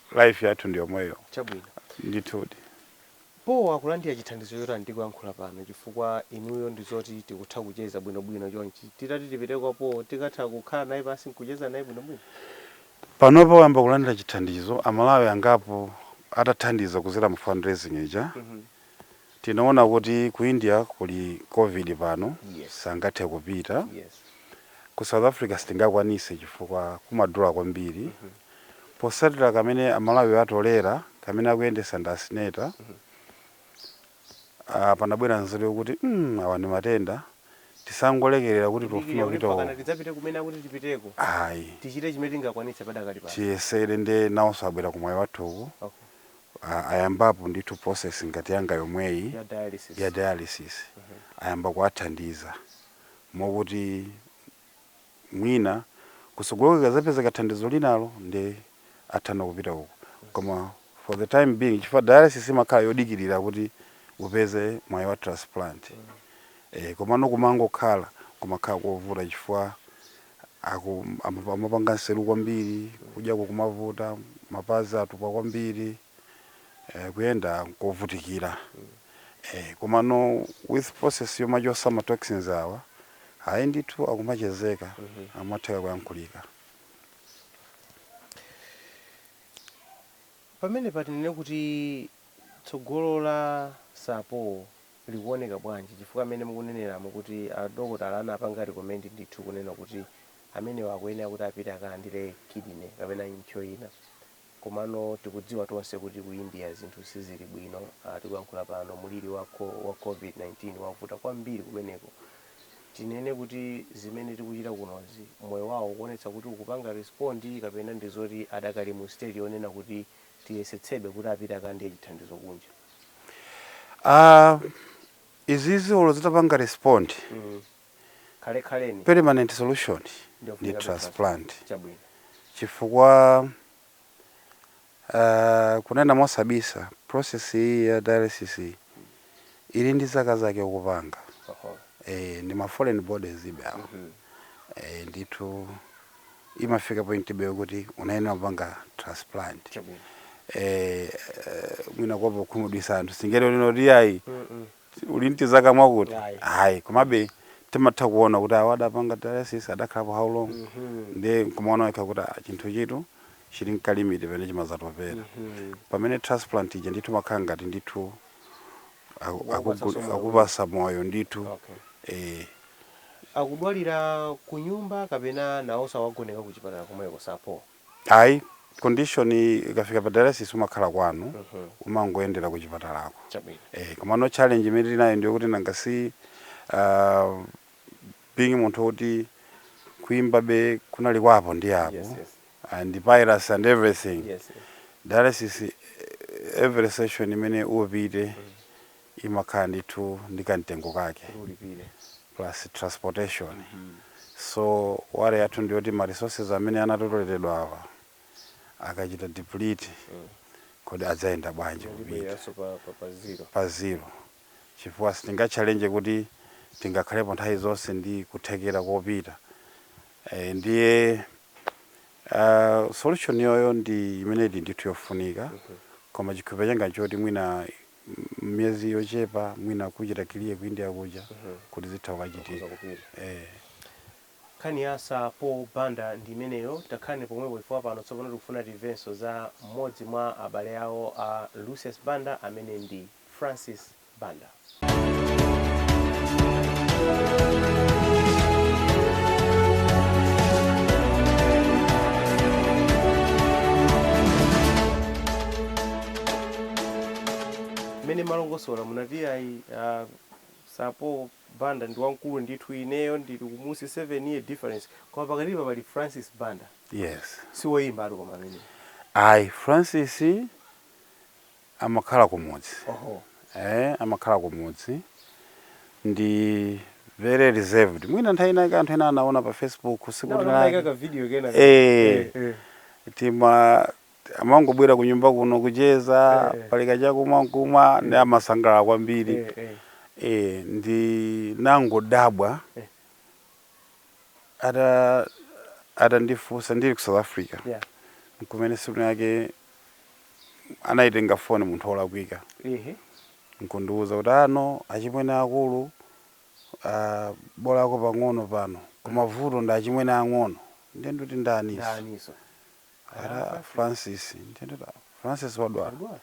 life yathu ndiyomweyo Chabwino. ndithudi. Paul akulandira chithandizo chotani tikuyankhula pano chifukwa inuyo ndizoti tikutha kucheza bwino bwino chonchi titati tipite kwa Paul tikatha kukhala naye pansi nkucheza naye bwino bwino? Panopa wayamba kulandira chithandizo aMalawi angapo atathandiza kudzera mu fundraising ija Mhm. tinaona kuti ku india kuli covid pano Yes. sangathe kupita ku south africa sitingakwanitse chifukwa kumadula kwambiri potsatira kamene amalawi atolera kamene akuyendetsa ndi asineta ah, panabwera nzeru yokuti mm, awa ndi matenda tisangolekerera kuti tofuna kupita pakana uko." tidzapite kumene akuti tipiteko ayi tichite chimene tingakwanitse padakali pano tiyesere nde nawonso abwera kumwayi wathuku okay a, ayambapo ndithu process ngati yanga yomweyi ya dialysis, ya dialysis. Mm -hmm. Ayamba kuwathandiza mokuti mwina kutsogoloku ikadzapezeka thandizo linalo ndi atha kupita uko, koma for the time being chifukwa dialysis imakhala yodikirira kuti upeze mwayi wa transplant. Mm -hmm. E, komano kumangokhala kumakhala kovuta chifukwa Aku amap- amapanga mseru kwambiri kudyako kumavuta mapazi atupa kwambiri eh, kuyenda nkovutikira eh, komano with process yomachotsa ma toxins awa ayi ndithu akumachezeka amatheka kuyankhulika pamene patinene kuti tsogolo la sapo likuoneka bwanji chifukwa mmene mukuneneramu kuti a dokotala anapanga recommend ndithu kunena kuti amenewa akuyenera kuti apite akalandire kidney kapena impsyo ina komano tikudziwa tonse kuti ku India zinthu sizili bwino ah, tikuyankhula pano mulili wa, co- wa covid-19 wavuta kwambiri kumeneko tinene kuti zimene tikuchita kunozi moyo wawo ukuonetsa kuti ukupanga respond kapena ndi zoti adakali mu stage yonena kuti tiyesetsebe kuti apite akalandire chithandizo kunja? Ah, izizi olo zitapanga respond Mm. Khale khalani permanent solution ndi ndofunika transplant Chabwino. chifukwa ah, kunena mosabisa process iyi ya dialysis iyi Ili ndi zaka zake ukupanga Oho. eh, ndi ma foreign bodies ibe awa Mhm. eh, ndithu imafika point ibe kuti unayenera kupanga transplant Chabwino. eh, eh, mwina mukuopa kukhumudwitsa anthu singalembe kuti ayi Mm, mm. uli ndi zaka mwakuti Ayi. ayi komabe timatha kuona kuti awa adapanga dialysis adakhalapo how long Mhm. ndiye nkumaona wekha kuti ah, chinthuchitu chili nkalimiti pamene chimazatopera Mhm. pamene transplant ija ndithu imakhala ngati ndithu Aku- Kuwapatsa akugu- somo la akupatsa moyo ndithu Okay. eh, akudwalira ku nyumba kapena nawoso awagoneka ku chipatala komweko sapo ayi condition ikafika pa dialysis umakhala kwanu umangoyendera ku chipatalako chabwino eh, komano challenge imene tinayo ndi yokuti nanga si uh, being munthu woti kuimbabe kunali kwa apo ndi apo Yes, yes. and piracy and everything yes sir. dialysis eh, every session imene upite imakhala ndithu ndi kamtengo kake ulipire plus transportation so worry yathu ndiyoti ma resources amene anatotoledwa apa akachita deplete kodi adzayenda bwanji kupita libeyaso pa, pa, pa zero pa zero chifukwa sitingatchalenje kuti tingakhalepo nthawi zonse ndi kuthekera kopita. Eh, ndiye ah, solution yoyoyo ndi imene ili ndithu yofunika koma chikhulupiriro changa nchoti mwina m- miyezi yochepa mwina kuchita clear ku india kuja kuti zitha kukachitika eh. nkhani ya sa paul banda ndi imeneyo takhalani pomwepo chifukwa pano tsopano tikufuna timvenso za mmodzi mwa abale awo a lucius banda amene ndi Francis Banda. mmene mumalongosola munati ayi uh, sa paul banda ndi wamkulu ndithu ineyo ndili kumunsi 7 year difference koma pakatipa pali francis banda yes si woyimbatu koma amene ayi francis amakhala kumudzi oho eh amakhala kumudzi ndi very reserved mwina nthawi ina yake anthu ena anaona pa facebook naona sikuti unaika ka video kena Eh. eh tima amangobwera ku nyumba kuno kucheza Eh. pali kachakumwa nkumwa ndi amasangalala kwambiri eh eh eh ndinangodabwa ata atandifunsa ndili ku south africa yeah. nkumene tsiku linalake anayitenga foni munthu olakwika Ehe. nkundiwuza kuti ano achimwene akulu uh, bolako pang'ono pano koma vuto ndi achimwene ang'ono ndiye ndikuti ndaninso Ndaninso. ati francis ndiye ndikuti "Ah, francis wadwala Wadwala.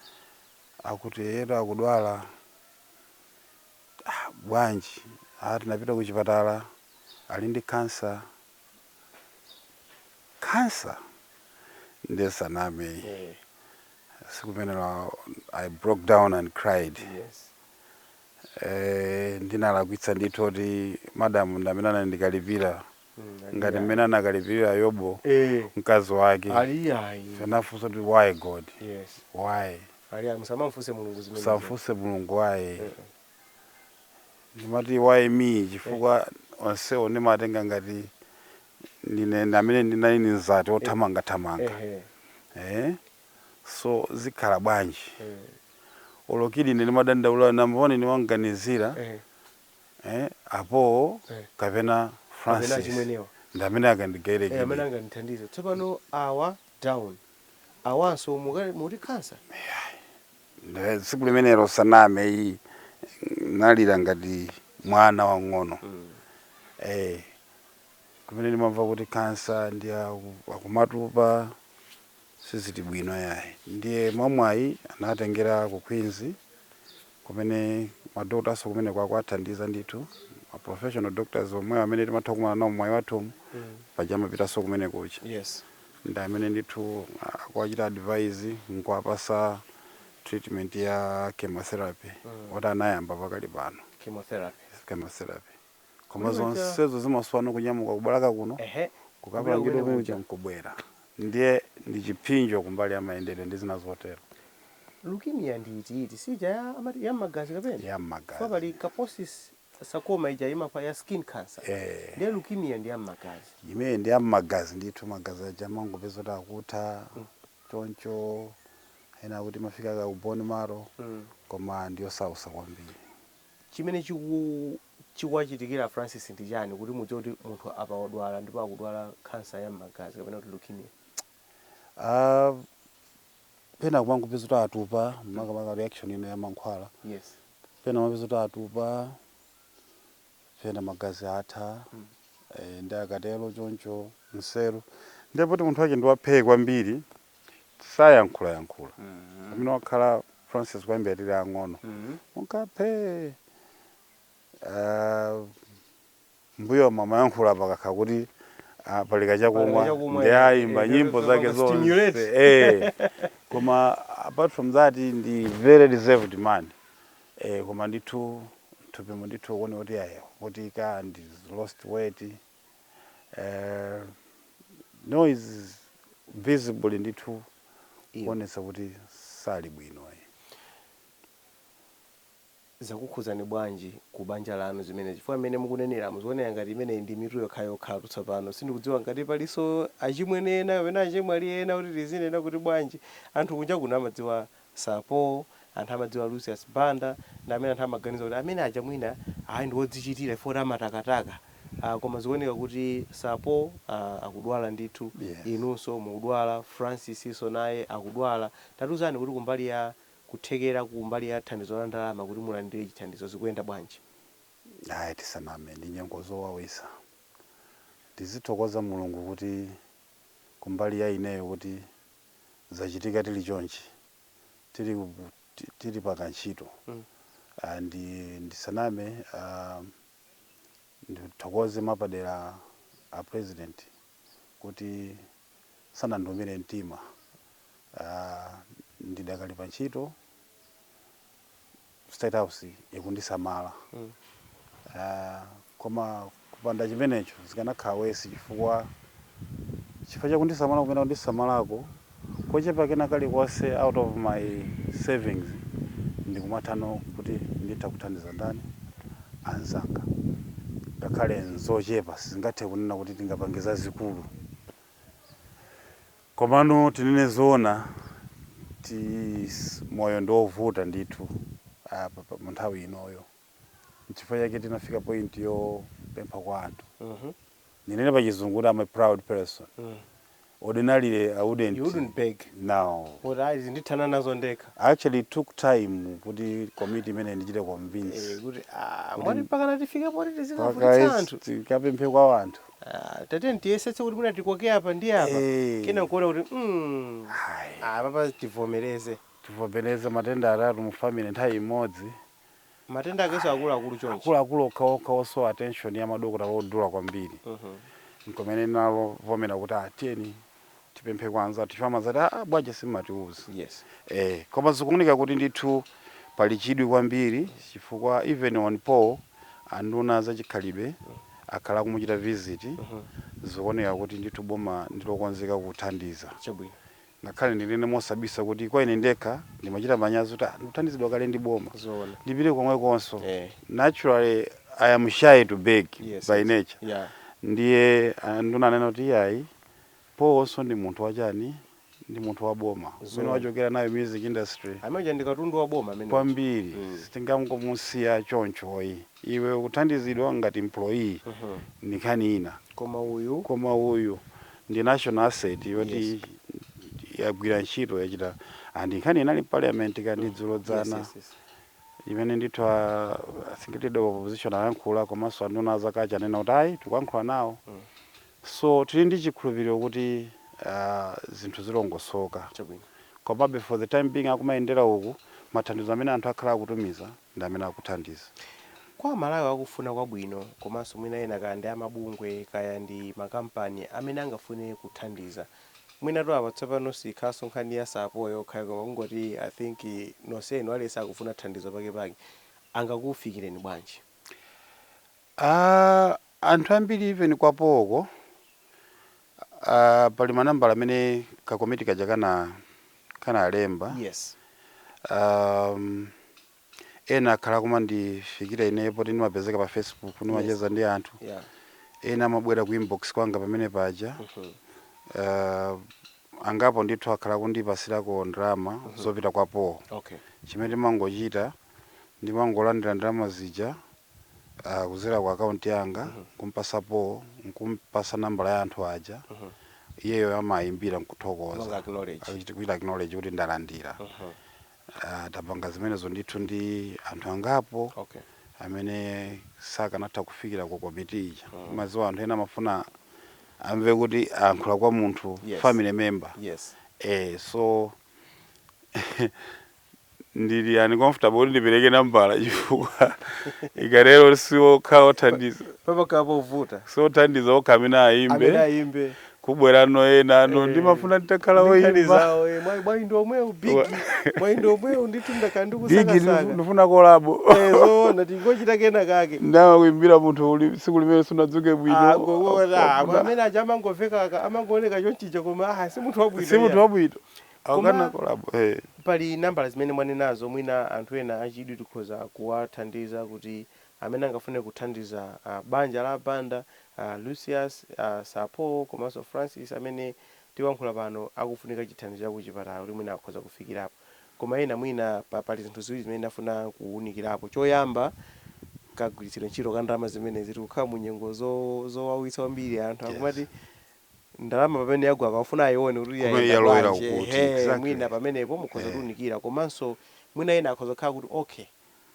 akuti eetu akudwala Ah, bwanji? Ah, tinapita kuchipatala. Ali ndi khansa. Khansa? Ndisaname. Eh. Tsiku limenelo I broke down and cried. Yes. Eh, ndinalakwitsa ndithu kuti madam ndamene anali kundikalipira. ngati mmene anakalipirira yobu eh mkazi wake ali ayi anafunsa kuti why god yes why ali ayi musamamfunse mulungu musamfunse mulungu why ndimati why me chifukwa onsewo ndimatenga ngati ndine ndamene ndinali mzati othamangathamanga ehe eh? so zikhala bwanji eh olo kuti ine ndimadandaula nanga poti ndimawaganizira ehe eh, apo Eh. kapena kapena francis achimwenewa ndi amene eh, akandigayire amene kidney angandithandize tsopano awa down awanso muka- muti khansa Nde tsiku limenelo sindiname ayi ndinalira ngati mwana wang'ono eh, kumene ndimamva kuti kansa ndi aku- akumatupa sizili bwino yayi ndiye mwamwayi anatengeredwa ku queens kumene ma doctor-nso kumeneko akuwathandiza ndithu ma professional doctors omwewo amene timatha kukumana nawo mmoyo wathu umu paja amapitanso komwe kuja yes ndi amene ndithu akuwachita advise nkuwapasa treatment ya chemotherapy oti anayamba pakali pano chemotherapy chemotherapy koma Kulibe cha- zonsezo zimaswana kunyamuka ku Balaka kuno ehe kukapangidwa Kubwera kumene kuja kuja. nkubwera ndiye ndi chipsinjo kumbali ya mayendedwe ndi zina zotero leukemia ndi iti iti si ija ya amati ya mmagazi kapena ya mmagazi Paja pali Kaposi's sarcoma ija imakhala ya skin cancer Eh. ndiye leukemia ndi ya mmagazi imene ndi ya mmagazi ndithu magazi aja amangopeza kuti akutha choncho ena akuti imafika ku bone marrow Mm. koma ndiyosausa kwambiri Chimene chiku chikuwachitikira a Francis ndi chani kuti mudziwe kuti munthu apa wadwala ndipo akudwala khansa ya mmagazi kapena kuti leukemia? Aaah pena timangopeza kuti atupa makamaka reaction ina ya mankhwala Yes. pena umapeza kuti atupa pena magazi atha eh nde akatero choncho nseru nde poti munthu wake ndi waphee kwambiri sayankhulayankhula amene wakhala francis kuyambira tili ang'ono munthu wa phee ah, mbuyo amayankhula pakakha kuti ah, pali kachakumwa chakumwa, ndi eh, ayimba eh, nyimbo eh, zake zonse stimulate. eh. koma apart from that ndi very reserved man eh, koma ndithu m'thupimu ndithu kuoneka kuti ayi kutikita ndi lost weight eh, now he's visibly ndithu kuonetsa kuti sali bwino ayi zakukhudzani bwanji ku banja lanu zimene chifukwa mmene mukunenera zikuoneka ngati imeneyi ndi mitu yokhayokhatu tsopano sindikudziwa ngati palinso achimwene ena kapena achemwali ena kuti tizinena kuti bwanji anthu kunja kuno amadziwa Sir Paul, anthu amadziwa Lucius Banda, ndi amene anthu amaganiza kuti amene aja mwina ayi ndi odzichitira chifukwa kuti amatakataka, ah, koma zikuoneka kuti Sir Paul, ah, akudwala ndithu, Yes. inunso mukudwala, Francis-nso naye akudwala, tatiuzani kuti kumbali ya kuthekera kumbali ya thandizo la ndalama kuti mulandire chithandizo zikuyenda bwanji? Ayi, tisaname, ndi nyengo zowawitsa. Tizithokoza Mulungu kuti kumbali ya ineyo kuti zachitika tili chonchi tili, ti- tili pakantchito Mm. Ah, ndi ndisaname ah, ndithokoze mwapadera a president kuti sanandiumire mtima Ah, ndidakali pa ntchito state house ikundisamala mm. uh, koma kupanda chimenecho zikanakhala worse chifukwa chifukwa cha kundisamala kumene kundisamalako kochepa kena kalikonse out of my savings ndikumathano kuti nditha kuthandiza ndani anzanga ngakhale nzochepa sizingathe kunena kuti tingapange zazikulu Komano tinene zoona tis moyo ndi wovuta ndithu apa pa- mu nthawi inoyo nchifukwa chake tinafika point yopempha kwa anthu ndinene pa chizungu kuti am a proud person ordinarily i You wouldn't wouldn't beg. now Kuti ayi ndithana nazo ndekha. I actually took time kuti komiti imene indichite convince Eh, kuti ah, mwati mpaka natifike poti tizikavutitsa anthu. tikapemphe kwa anthu Ah, tatiyeni tiyesetse kuti mwina tikoke apa ndi apa Eh. kenako nkuona kuti mm, Hai. apapa tivomereze tivomereze matenda atatu mu family nthawi imodzi matenda akeso akuluakulu chonchi akuluakulu okhaokha osowa attention ya madokotala odula kwambiri Mhm. nkomwe ndinalovomera kuti atiyeni tipemphe kwa anzathu chifukwa amazati a ah, bwanji simumatiuza yes. eh, koma zikuoneka kuti ndithu pali chidwi kwambiri chifukwa even kwa Paul anduna zachikhalidwe akhala akumuchita visit mm -hmm. zikuoneka kuti ndithu boma ndilokonzeka kuthandiza chabwino ngakhale ndinene mosabisa kuti kwa ine ndekha ndimachita manyazi kuti ah, ndikuthandizidwa kale ndi boma ndipite komwekonso eh. naturally i am shy to beg yes, by nature yeah. ndiye ah, nduna anena kuti iyayi Paulnso ndi munthu wa chiyani? Ndi munthu wa boma. Kumene Zoona. wachokera nayo music industry Amene uja ndi katundu wa boma amene uja. kwambiri Mm. sitingangomusiya choncho iyayi. Iwe ukuthandizidwa ngati employee Mhm. ndi nkhani ina. Koma uyu Koma uyu ndi national asset yoti Yes. yagwira ntchito yachita and nkhani inali parliament kaya ndi dzulo yes, dzana yes, yes. imene ndithu a I think leader of opposition ayankhula komanso anduna a zakunja anena kuti ayi tikuyankhula nawo Mm. So tili ndi chikhulupiliro kuti zinthu zilongosoka. Chabwino. Komabe for the time being akumayendera uko mathandizo amene anthu akhala akutumiza ndi amene akuthandiza. Kwa Amalawi akufuna kwabwino komanso mwina ena kaya ndi amabungwe kaya ndi makampani amene angafune kuthandiza. Mwinatu apa tsopano siyikhalanso nkhani ya Sir Paul yekhayi koma kungoti I think nonsenu aliyense akufuna thandizo pakepake. Angakufikireni bwanji? Aaa Anthu ambiri even kwa Paul ko aah pali manambala amene ka komiti kaja kana kanalemba Yes. aah ena akhala akumandifikira ineyo poti ndimapezeka pa facebook Yes. ndimacheza ndi anthu Yeah. ena amabwera ku inbox kwanga pamene paja Mhm. aah angapo ndithu akhala akundipasirako ndalama zopita kwa Paul Okay. chimene ndimangochita ndimangolandira ndalama zija uh, kuzera ku akaunti yanga mm -hmm. kumpasa Paul nkumpasa nambala ya anthu aja mm -hmm. iyeyo amayimbira nkuthokoza kuchita acknowledge kuti ndalandira mm -hmm. uh, tapanga zimenezo ndithu ndi anthu angapo okay. amene sakanatha kufikira ku komiti ija mm -hmm. maziwa anthu ena amafuna amve kuti ankhula kwa munthu yes. family member yes. eh, so ndili uncomfortable kuti ndipereke nambala chifukwa ikatero si okha othandiza pamakhala povuta si othandiza okha amene amene ayimbe ayimbe kubwerano ena ano Eh. ndimafuna nditakhala ndi nkhani oyimba zawo eh, mwayi- mwayi ndi omwewu big Wa- mwayi ndi omwewu ndithu bigi ndakhala ndikusakasaka ndifuna kolabo zoona tingochita kena kake nde amakuimbira munthu uli- tsiku limene sunadzuke bwino Ah, go- go- ah, Wafuna- amene aja amangoveka ka- amangooneka chonchicha koma ah, si munthu wabwino si munthu iya. wabwino Koma pali nambala zimene mwanenazo, mwina anthu ena achidwi tikhoza kuwathandiza kuti amene angafune kuthandiza banja la Banda, a Lucius, a Sir Paul komanso Francis amene tikuyankhula pano akufunika chithandizo cha kuchipatala kuti mwina akhoza kufikirapo. Komano mwina pali zinthu ziwiri zimene ndafuna kuwunikirapo. Choyamba, kagwiritsidwe ntchito ka ndalama zimenezi. Tikukhala mu nyengo zowawitsa kwambiri, anthu akumati ndalama pamene yagwa akafuna ayione kuti Kumene yayenda yalowera bwanji ukuti, ehe exactly. mwina pamenepo mukhoza Eh. kutiunikira komanso mwina ena akhoza kukhala kuti okay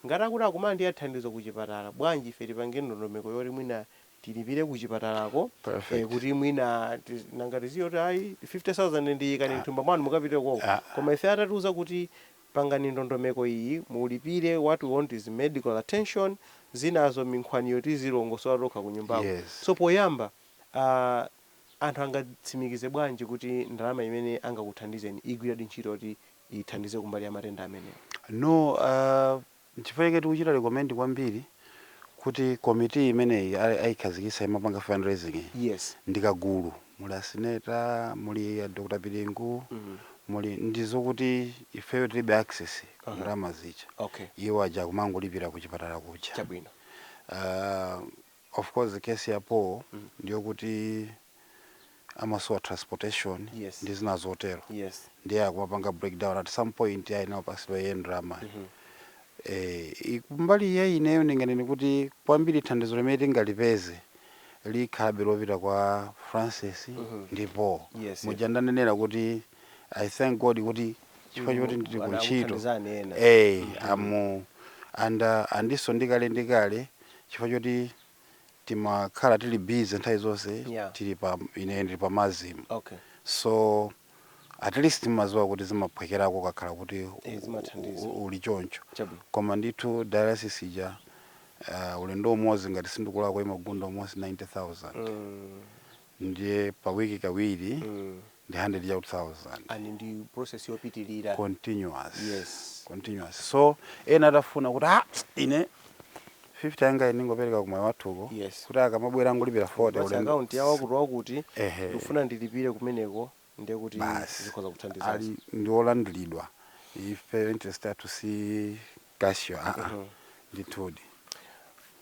ngati akuti akumalandira thandizo kuchipatala bwanji ife tipange ndondomeko yoti mwina tilipire kuchipatalako eh, Perfect. kuti mwina ti- nanga tiziye kuti ayi 50000 ndiyikani mthumba mwanu mukapite koko Ah. koma ife atatiuza kuti pangani ndondomeko iyi mulipire what we want is medical attention zinazo minkhwaniyo tizilongosola tokha kunyumbako Yes. so poyamba aah anthu angatsimikize bwanji kuti ndalama imene angakuthandizeni igwiradi ntchito yoti ithandize kumbali ya matenda amenewa? No aah nchifukwa chake tikuchita recommend kwambiri kuti committee imeneyi a ayikhazikitsa imapanga fundraising yi Yes. ndi kagulu muli a Sineta, muli a Dr Piringu, mmh muli ndi zokuti ifeyo tilibe access ku Aha. ndalama zija okay. iwo aja akumangolipira kuchipatala kuja Chabwino. aah. Of course case ya Paul ndiyokuti amasowa transportation Yes. ndi zina zotero yes ndiye akumapanga breakdown at some point ayenanso apasidwe ndalama eh i- kumbali ya ineyo ndinganene kuti kwambiri thandizo limene tingalipeze likhabe lopita kwa Francis ndi Paul Yes, muja ndanenera kuti I thank God kuti chifukwa choti ndili ku ntchito Anakuthandizani ena. eh amu anda andiso ndikale ndikale chifukwa choti timakhala tili busy nthawi zonse Yeah. tili pa ine ndili pa MASM Okay. so at least timaziwa kuti zimaphwekerako ukakhala kuti Eh, zimathandiza. u- u- uli choncho Chabwino. koma ndithu dialysis ija uh, ulendo umodzi ngati sindikulakwa imagunda almost 90000 Mm. ndiye pa week kawiri ndi hundred eighty thousand and ndi process yopitilira continuous Yes. continuous so ena atafuna kuti ah ine 50 yanga ine ndingopereka kumayi wathuko Yes. kuti akamabwera angolipira 40 basi ulendo- akaunti yawo akuti wakuti Ehe. ndikufuna ndilipire kumeneko ndiye kuti basi zikhoza kuthandizanso ali ndi olandiridwa ife interest yathu si cash aa ndithudi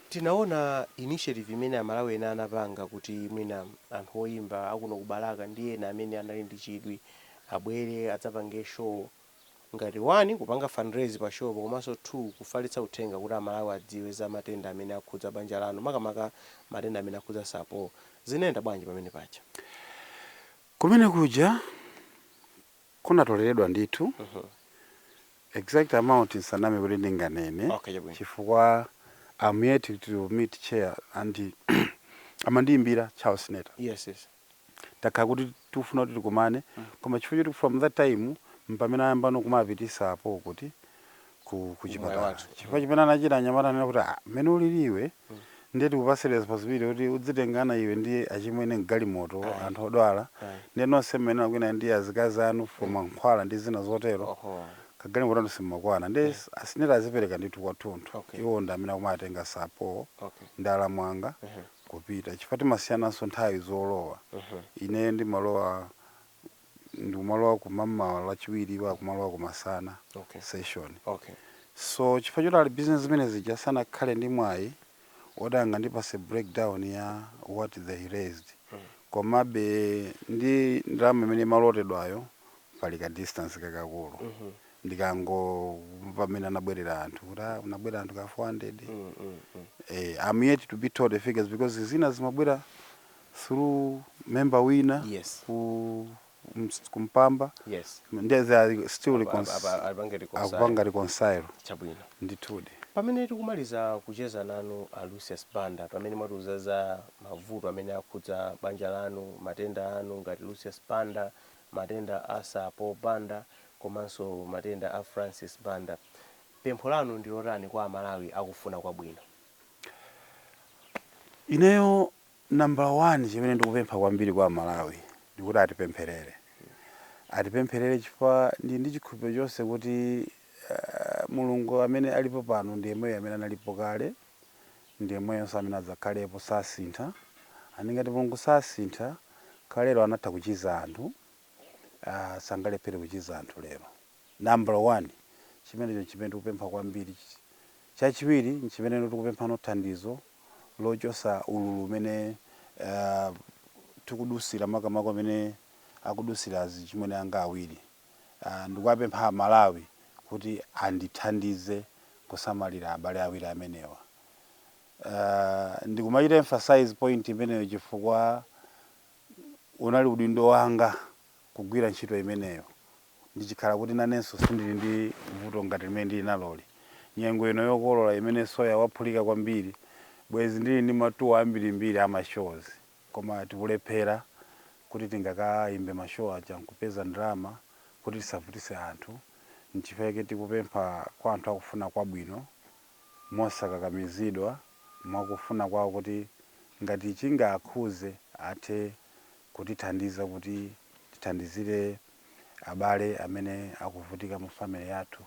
tinaona initiative imene amalawi ena anapanga kuti mwina anthu oyimba akuno ku balaka ndi ena amene anali ndi chidwi abwere adzapange show Ngati 1 kupanga fundraise pa show-po komanso 2 kufalitsa uthenga kuti a Malawi adziwe za matenda amene akhudza banja lanu makamaka matenda amene akhudza Sir Paul. Zinayenda bwanji pamene paja? Eeeh kumene kuja kunatoleredwa ndithu exact amount ndisaname kuti ndinganene Okay chabwino. chifukwa am yet to meet chair and amandiyimbira Charles Sinetre. Yes yes. takhala kuti tikufuna kuti tikumane koma chifukwa choti from that time mpamene ayambano kumapitisa apo kuti ku, ku chipatala wathu. chifukwa chimene anachita anyamata ananena kuti ah, mmene ulili iwe ndiye tikupase responsibility kuti udzitengana iwe ndi achimwene mgalimoto anthu odwala ndiye nonse mmene mukulowa ndi azikazi anu for mankhwala ndi zina zotero oho kagalimoto kanu simmakwana ndi a Sinetre adzipereka ndithu kwathunthu Okay. iwo ndi amene akumatenga Sir Paul okay ndi alamu anga kupita chifukwa timasiyananso nthawi zolowa ineyo ndimalowa ndikumalowa kumamawa lachiwiri iwo akumalowa kumasana Okay. session okay so chifukwa choti ali busy ndi zimene zija sanakhale ndi mwayi oti angandipase breakdown ya what they raised komabe ndi ndalama imene imalotedwayo pali ka distance kakakulu ndikangomva mmene anabwerera anthu kuti ah, munabwera anthu ka 400 Mm, mm, mm. eh, I'm yet to be told the figures because zina zimabwera through member wina Yes. ku ms- kumpamba yes nde they are still Apa- recon- apa- apa- apange reconcile. akupanga reconcile chabwino ndithudi pamene tikumaliza kucheza nanu a lucius banda pamene mwatiuza za mavuto amene akhudza banja lanu matenda anu ngati lucius banda matenda a Sir Paul Banda komanso matenda a Francis Banda. Pempho lanu ndi lotani kwa Amalawi akufuna kwabwino? Ineyo nambala wani chimene ndikupempha kwambiri kwa Amalawi ndi kuti atipempherere. Atipempherere chifukwa ndili ndi chikhulupiriro chonse kuti Mulungu amene alipo pano ndi yemweyo amene analipo kale ndi yemweyonso amene adzakhalepo sasintha and ngati mulungu sasintha kalero anatha kuchiza anthu aah sangalephere kuchiza anthu lero number one chimenecho nchimene tikupempha kwambiri chachiwiri nchimeneno tikupemphano thandizo lochosa ululu umene aah tikudusira makamaka umene akudusira azichimwene anga awiri Ndikuwapempha Amalawi kuti andithandize kusamalira abale awiri amenewa. Ndikumachita emphasize point imeneyo chifukwa unali udindo wanga kugwira ntchito imeneyo ndichikhala kuti nanenso sindili ndi vuto ngati limene ndili naloli. Nyengo ino yokolola imene soya waphulika kwambiri, bwenzi ndili ndi ma tour ambirimbiri a mashows. koma tikulephera kuti tingakaimbe ma show aja nkupeza ndalama kuti tisavutise anthu nchifukwa chake tikupempha kwa anthu akufuna kwabwino mosakakamizidwa mwakufuna kwawo kuti ngati chingawakhuze athe kutithandiza kuti tithandizire abale amene akuvutika mu family yathu.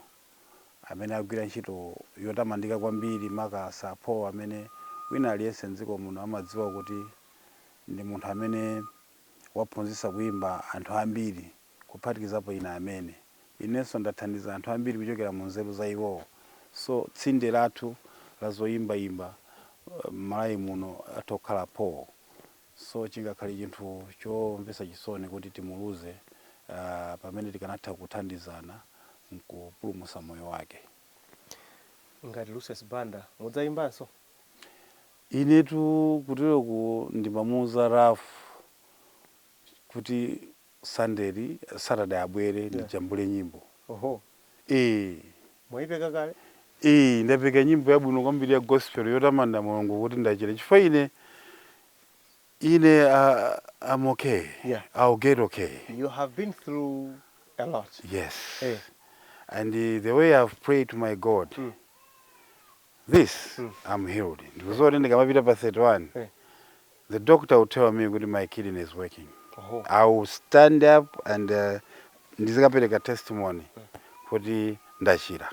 amene agwira ntchito yotamandika kwambiri, maka Sir Paul amene wina aliyense m'dziko muno amadziwa kuti ndi munthu amene waphunzitsa kuimba anthu ambiri kuphatikizapo ine amene. Inenso ndathandiza anthu ambiri kuchokera mu nzeru za iwowo. So, tsinde lathu la zoimbaimba m'Malawi muno atha kukhala Paul. So chingakhale chinthu chomvetsa chisoni kuti timuluze pamene tikanatha kuthandizana nkupulumutsa moyo wake. Ngati Lucius Banda, mudzayimbanso? Inetu kuteroku ndimamuuza Ralph kuti Sunday li Saturday abwere Yeah. ndijambule nyimbo. Oho, Ee. mwaipeka kale? Ee, ndapeka nyimbo yabwino kwambiri ya gospel yotamanda Mulungu kuti ndachira. Chifukwa ine ine uh, I'm okay. Yeah. I'll get okay. You have been through a lot. Yes. Eh. And uh, the way I've prayed to my God. Mm. this mm. I'm healed ndikudziwa kuti ndikamapita pa 31 eh. the doctor will tell me kuti my kidney is working oh. I will stand up and uh, ndizikapereka testimony eh. kuti ndachira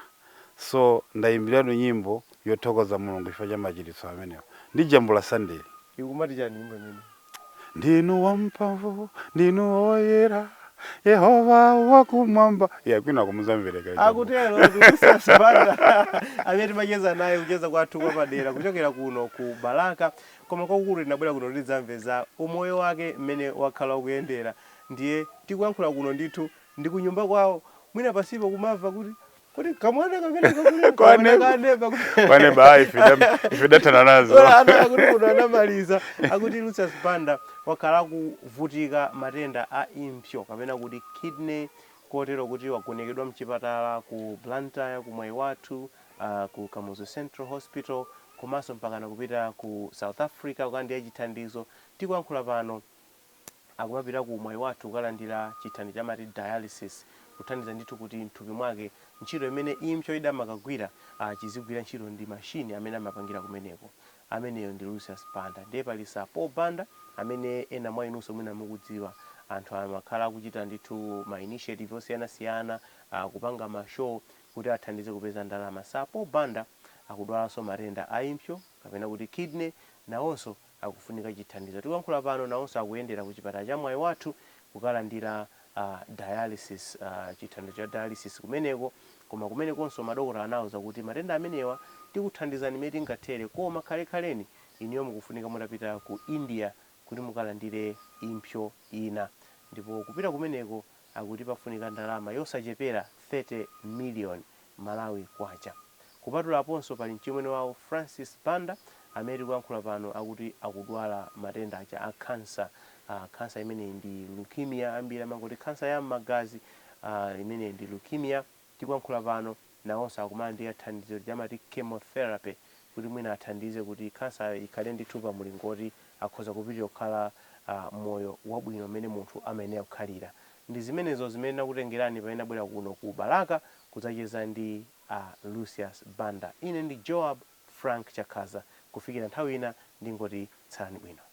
so ndayimbiratu nyimbo yothokoza mulungu chifukwa cha machiritso amenewo ndi jam ya sunday ikumati chani nyimbo imene ndinu wamphamvu ndinu woyera yehova wakumwamba ina kumadzamveka akutero Lucius Banda amene timacheza naye kucheza kwathu kwapadera kuchokera kuno ku Balaka koma kwakukulu tinabwera kuno kuti tidzamve za umoyo wake mmene wakhala ukuyendera ndiye tikuyankhula kuno ndithu ndi kunyumba kwawo mwina pansipo mukumamva kuti kuti kamwana kamene kakule kamwana kaneba kwane ba ife da- ife datana nazo Ola ana akuti munthu anamaliza akuti Lucius Banda wakhala akuvutika matenda a impsyo kapena kuti kidney kotero kuti wagonekedwa mchipatala ku Blantyre ku Mwaiwathu uh, ku Kamuzu Central Hospital komanso mpakana kupita ku South Africa kukalandira chithandizo tikuyankhula pano akumapita ku Mwaiwathu kukalandira chithandizo cha amati dialysis, kuthandiza ndithu kuti m'thupi mwake ntchito imene impso idamakagwira ah chizigwira ntchito ndi machine amene amapangira kumeneko. Ameneyo ndi Lucius Banda. Ndiye pali Sir Paul Banda amene ena mwa inunso mwina mukudziwa. Anthu amakhala akuchita ndithu ma initiative osiyanasiyana, ah kupanga ma show kuti athandize kupeza ndalama. Sir Paul Banda akudwalanso matenda a impso kapena kuti kidney nawonso. akufunika chithandizo. Tikuyankhula pano nawonso akuyendera ku chipatala cha Mwaiwathu kukalandira dialysis, chithandizo cha dialysis kumeneko. Koma kumenekonso madokotala anawauza kuti matenda amenewa tikuthandizani mmene tingathere koma kale-kaleni inuyo mukufunika mutapita ku India kuti mukalandire impsyo ina. Ndipo kupita kumeneko. akuti pafunika ndalama yosachepera 30 million Malawi Kwacha. Kupatula aponso pali mchimwene wawo Francis Banda amene tikuyankhula pano akuti akudwala matenda aja a cancer, ah cancer imeneyi ndi Leukemia ambiri amangoti cancer ya mmagazi, ah imeneyi ndi Leukemia. tikuyankhula pano nawonso akumalandira thandizo lija amati chemotherapy kuti mwina athandize kuti khansayo ikhale ndithu pa mlingo woti akhoza kupitiriza kukhala moyo wabwino mmene munthu amayenera kukhalira. Ndi zimenezo zimene tinakutengerani pamene tinabwera kuno ku Balaka kudzacheza ndi a Lucius Banda. Ine ndi Joab Frank Chakhaza. Kufikira nthawi ina ndingoti tsalani bwino.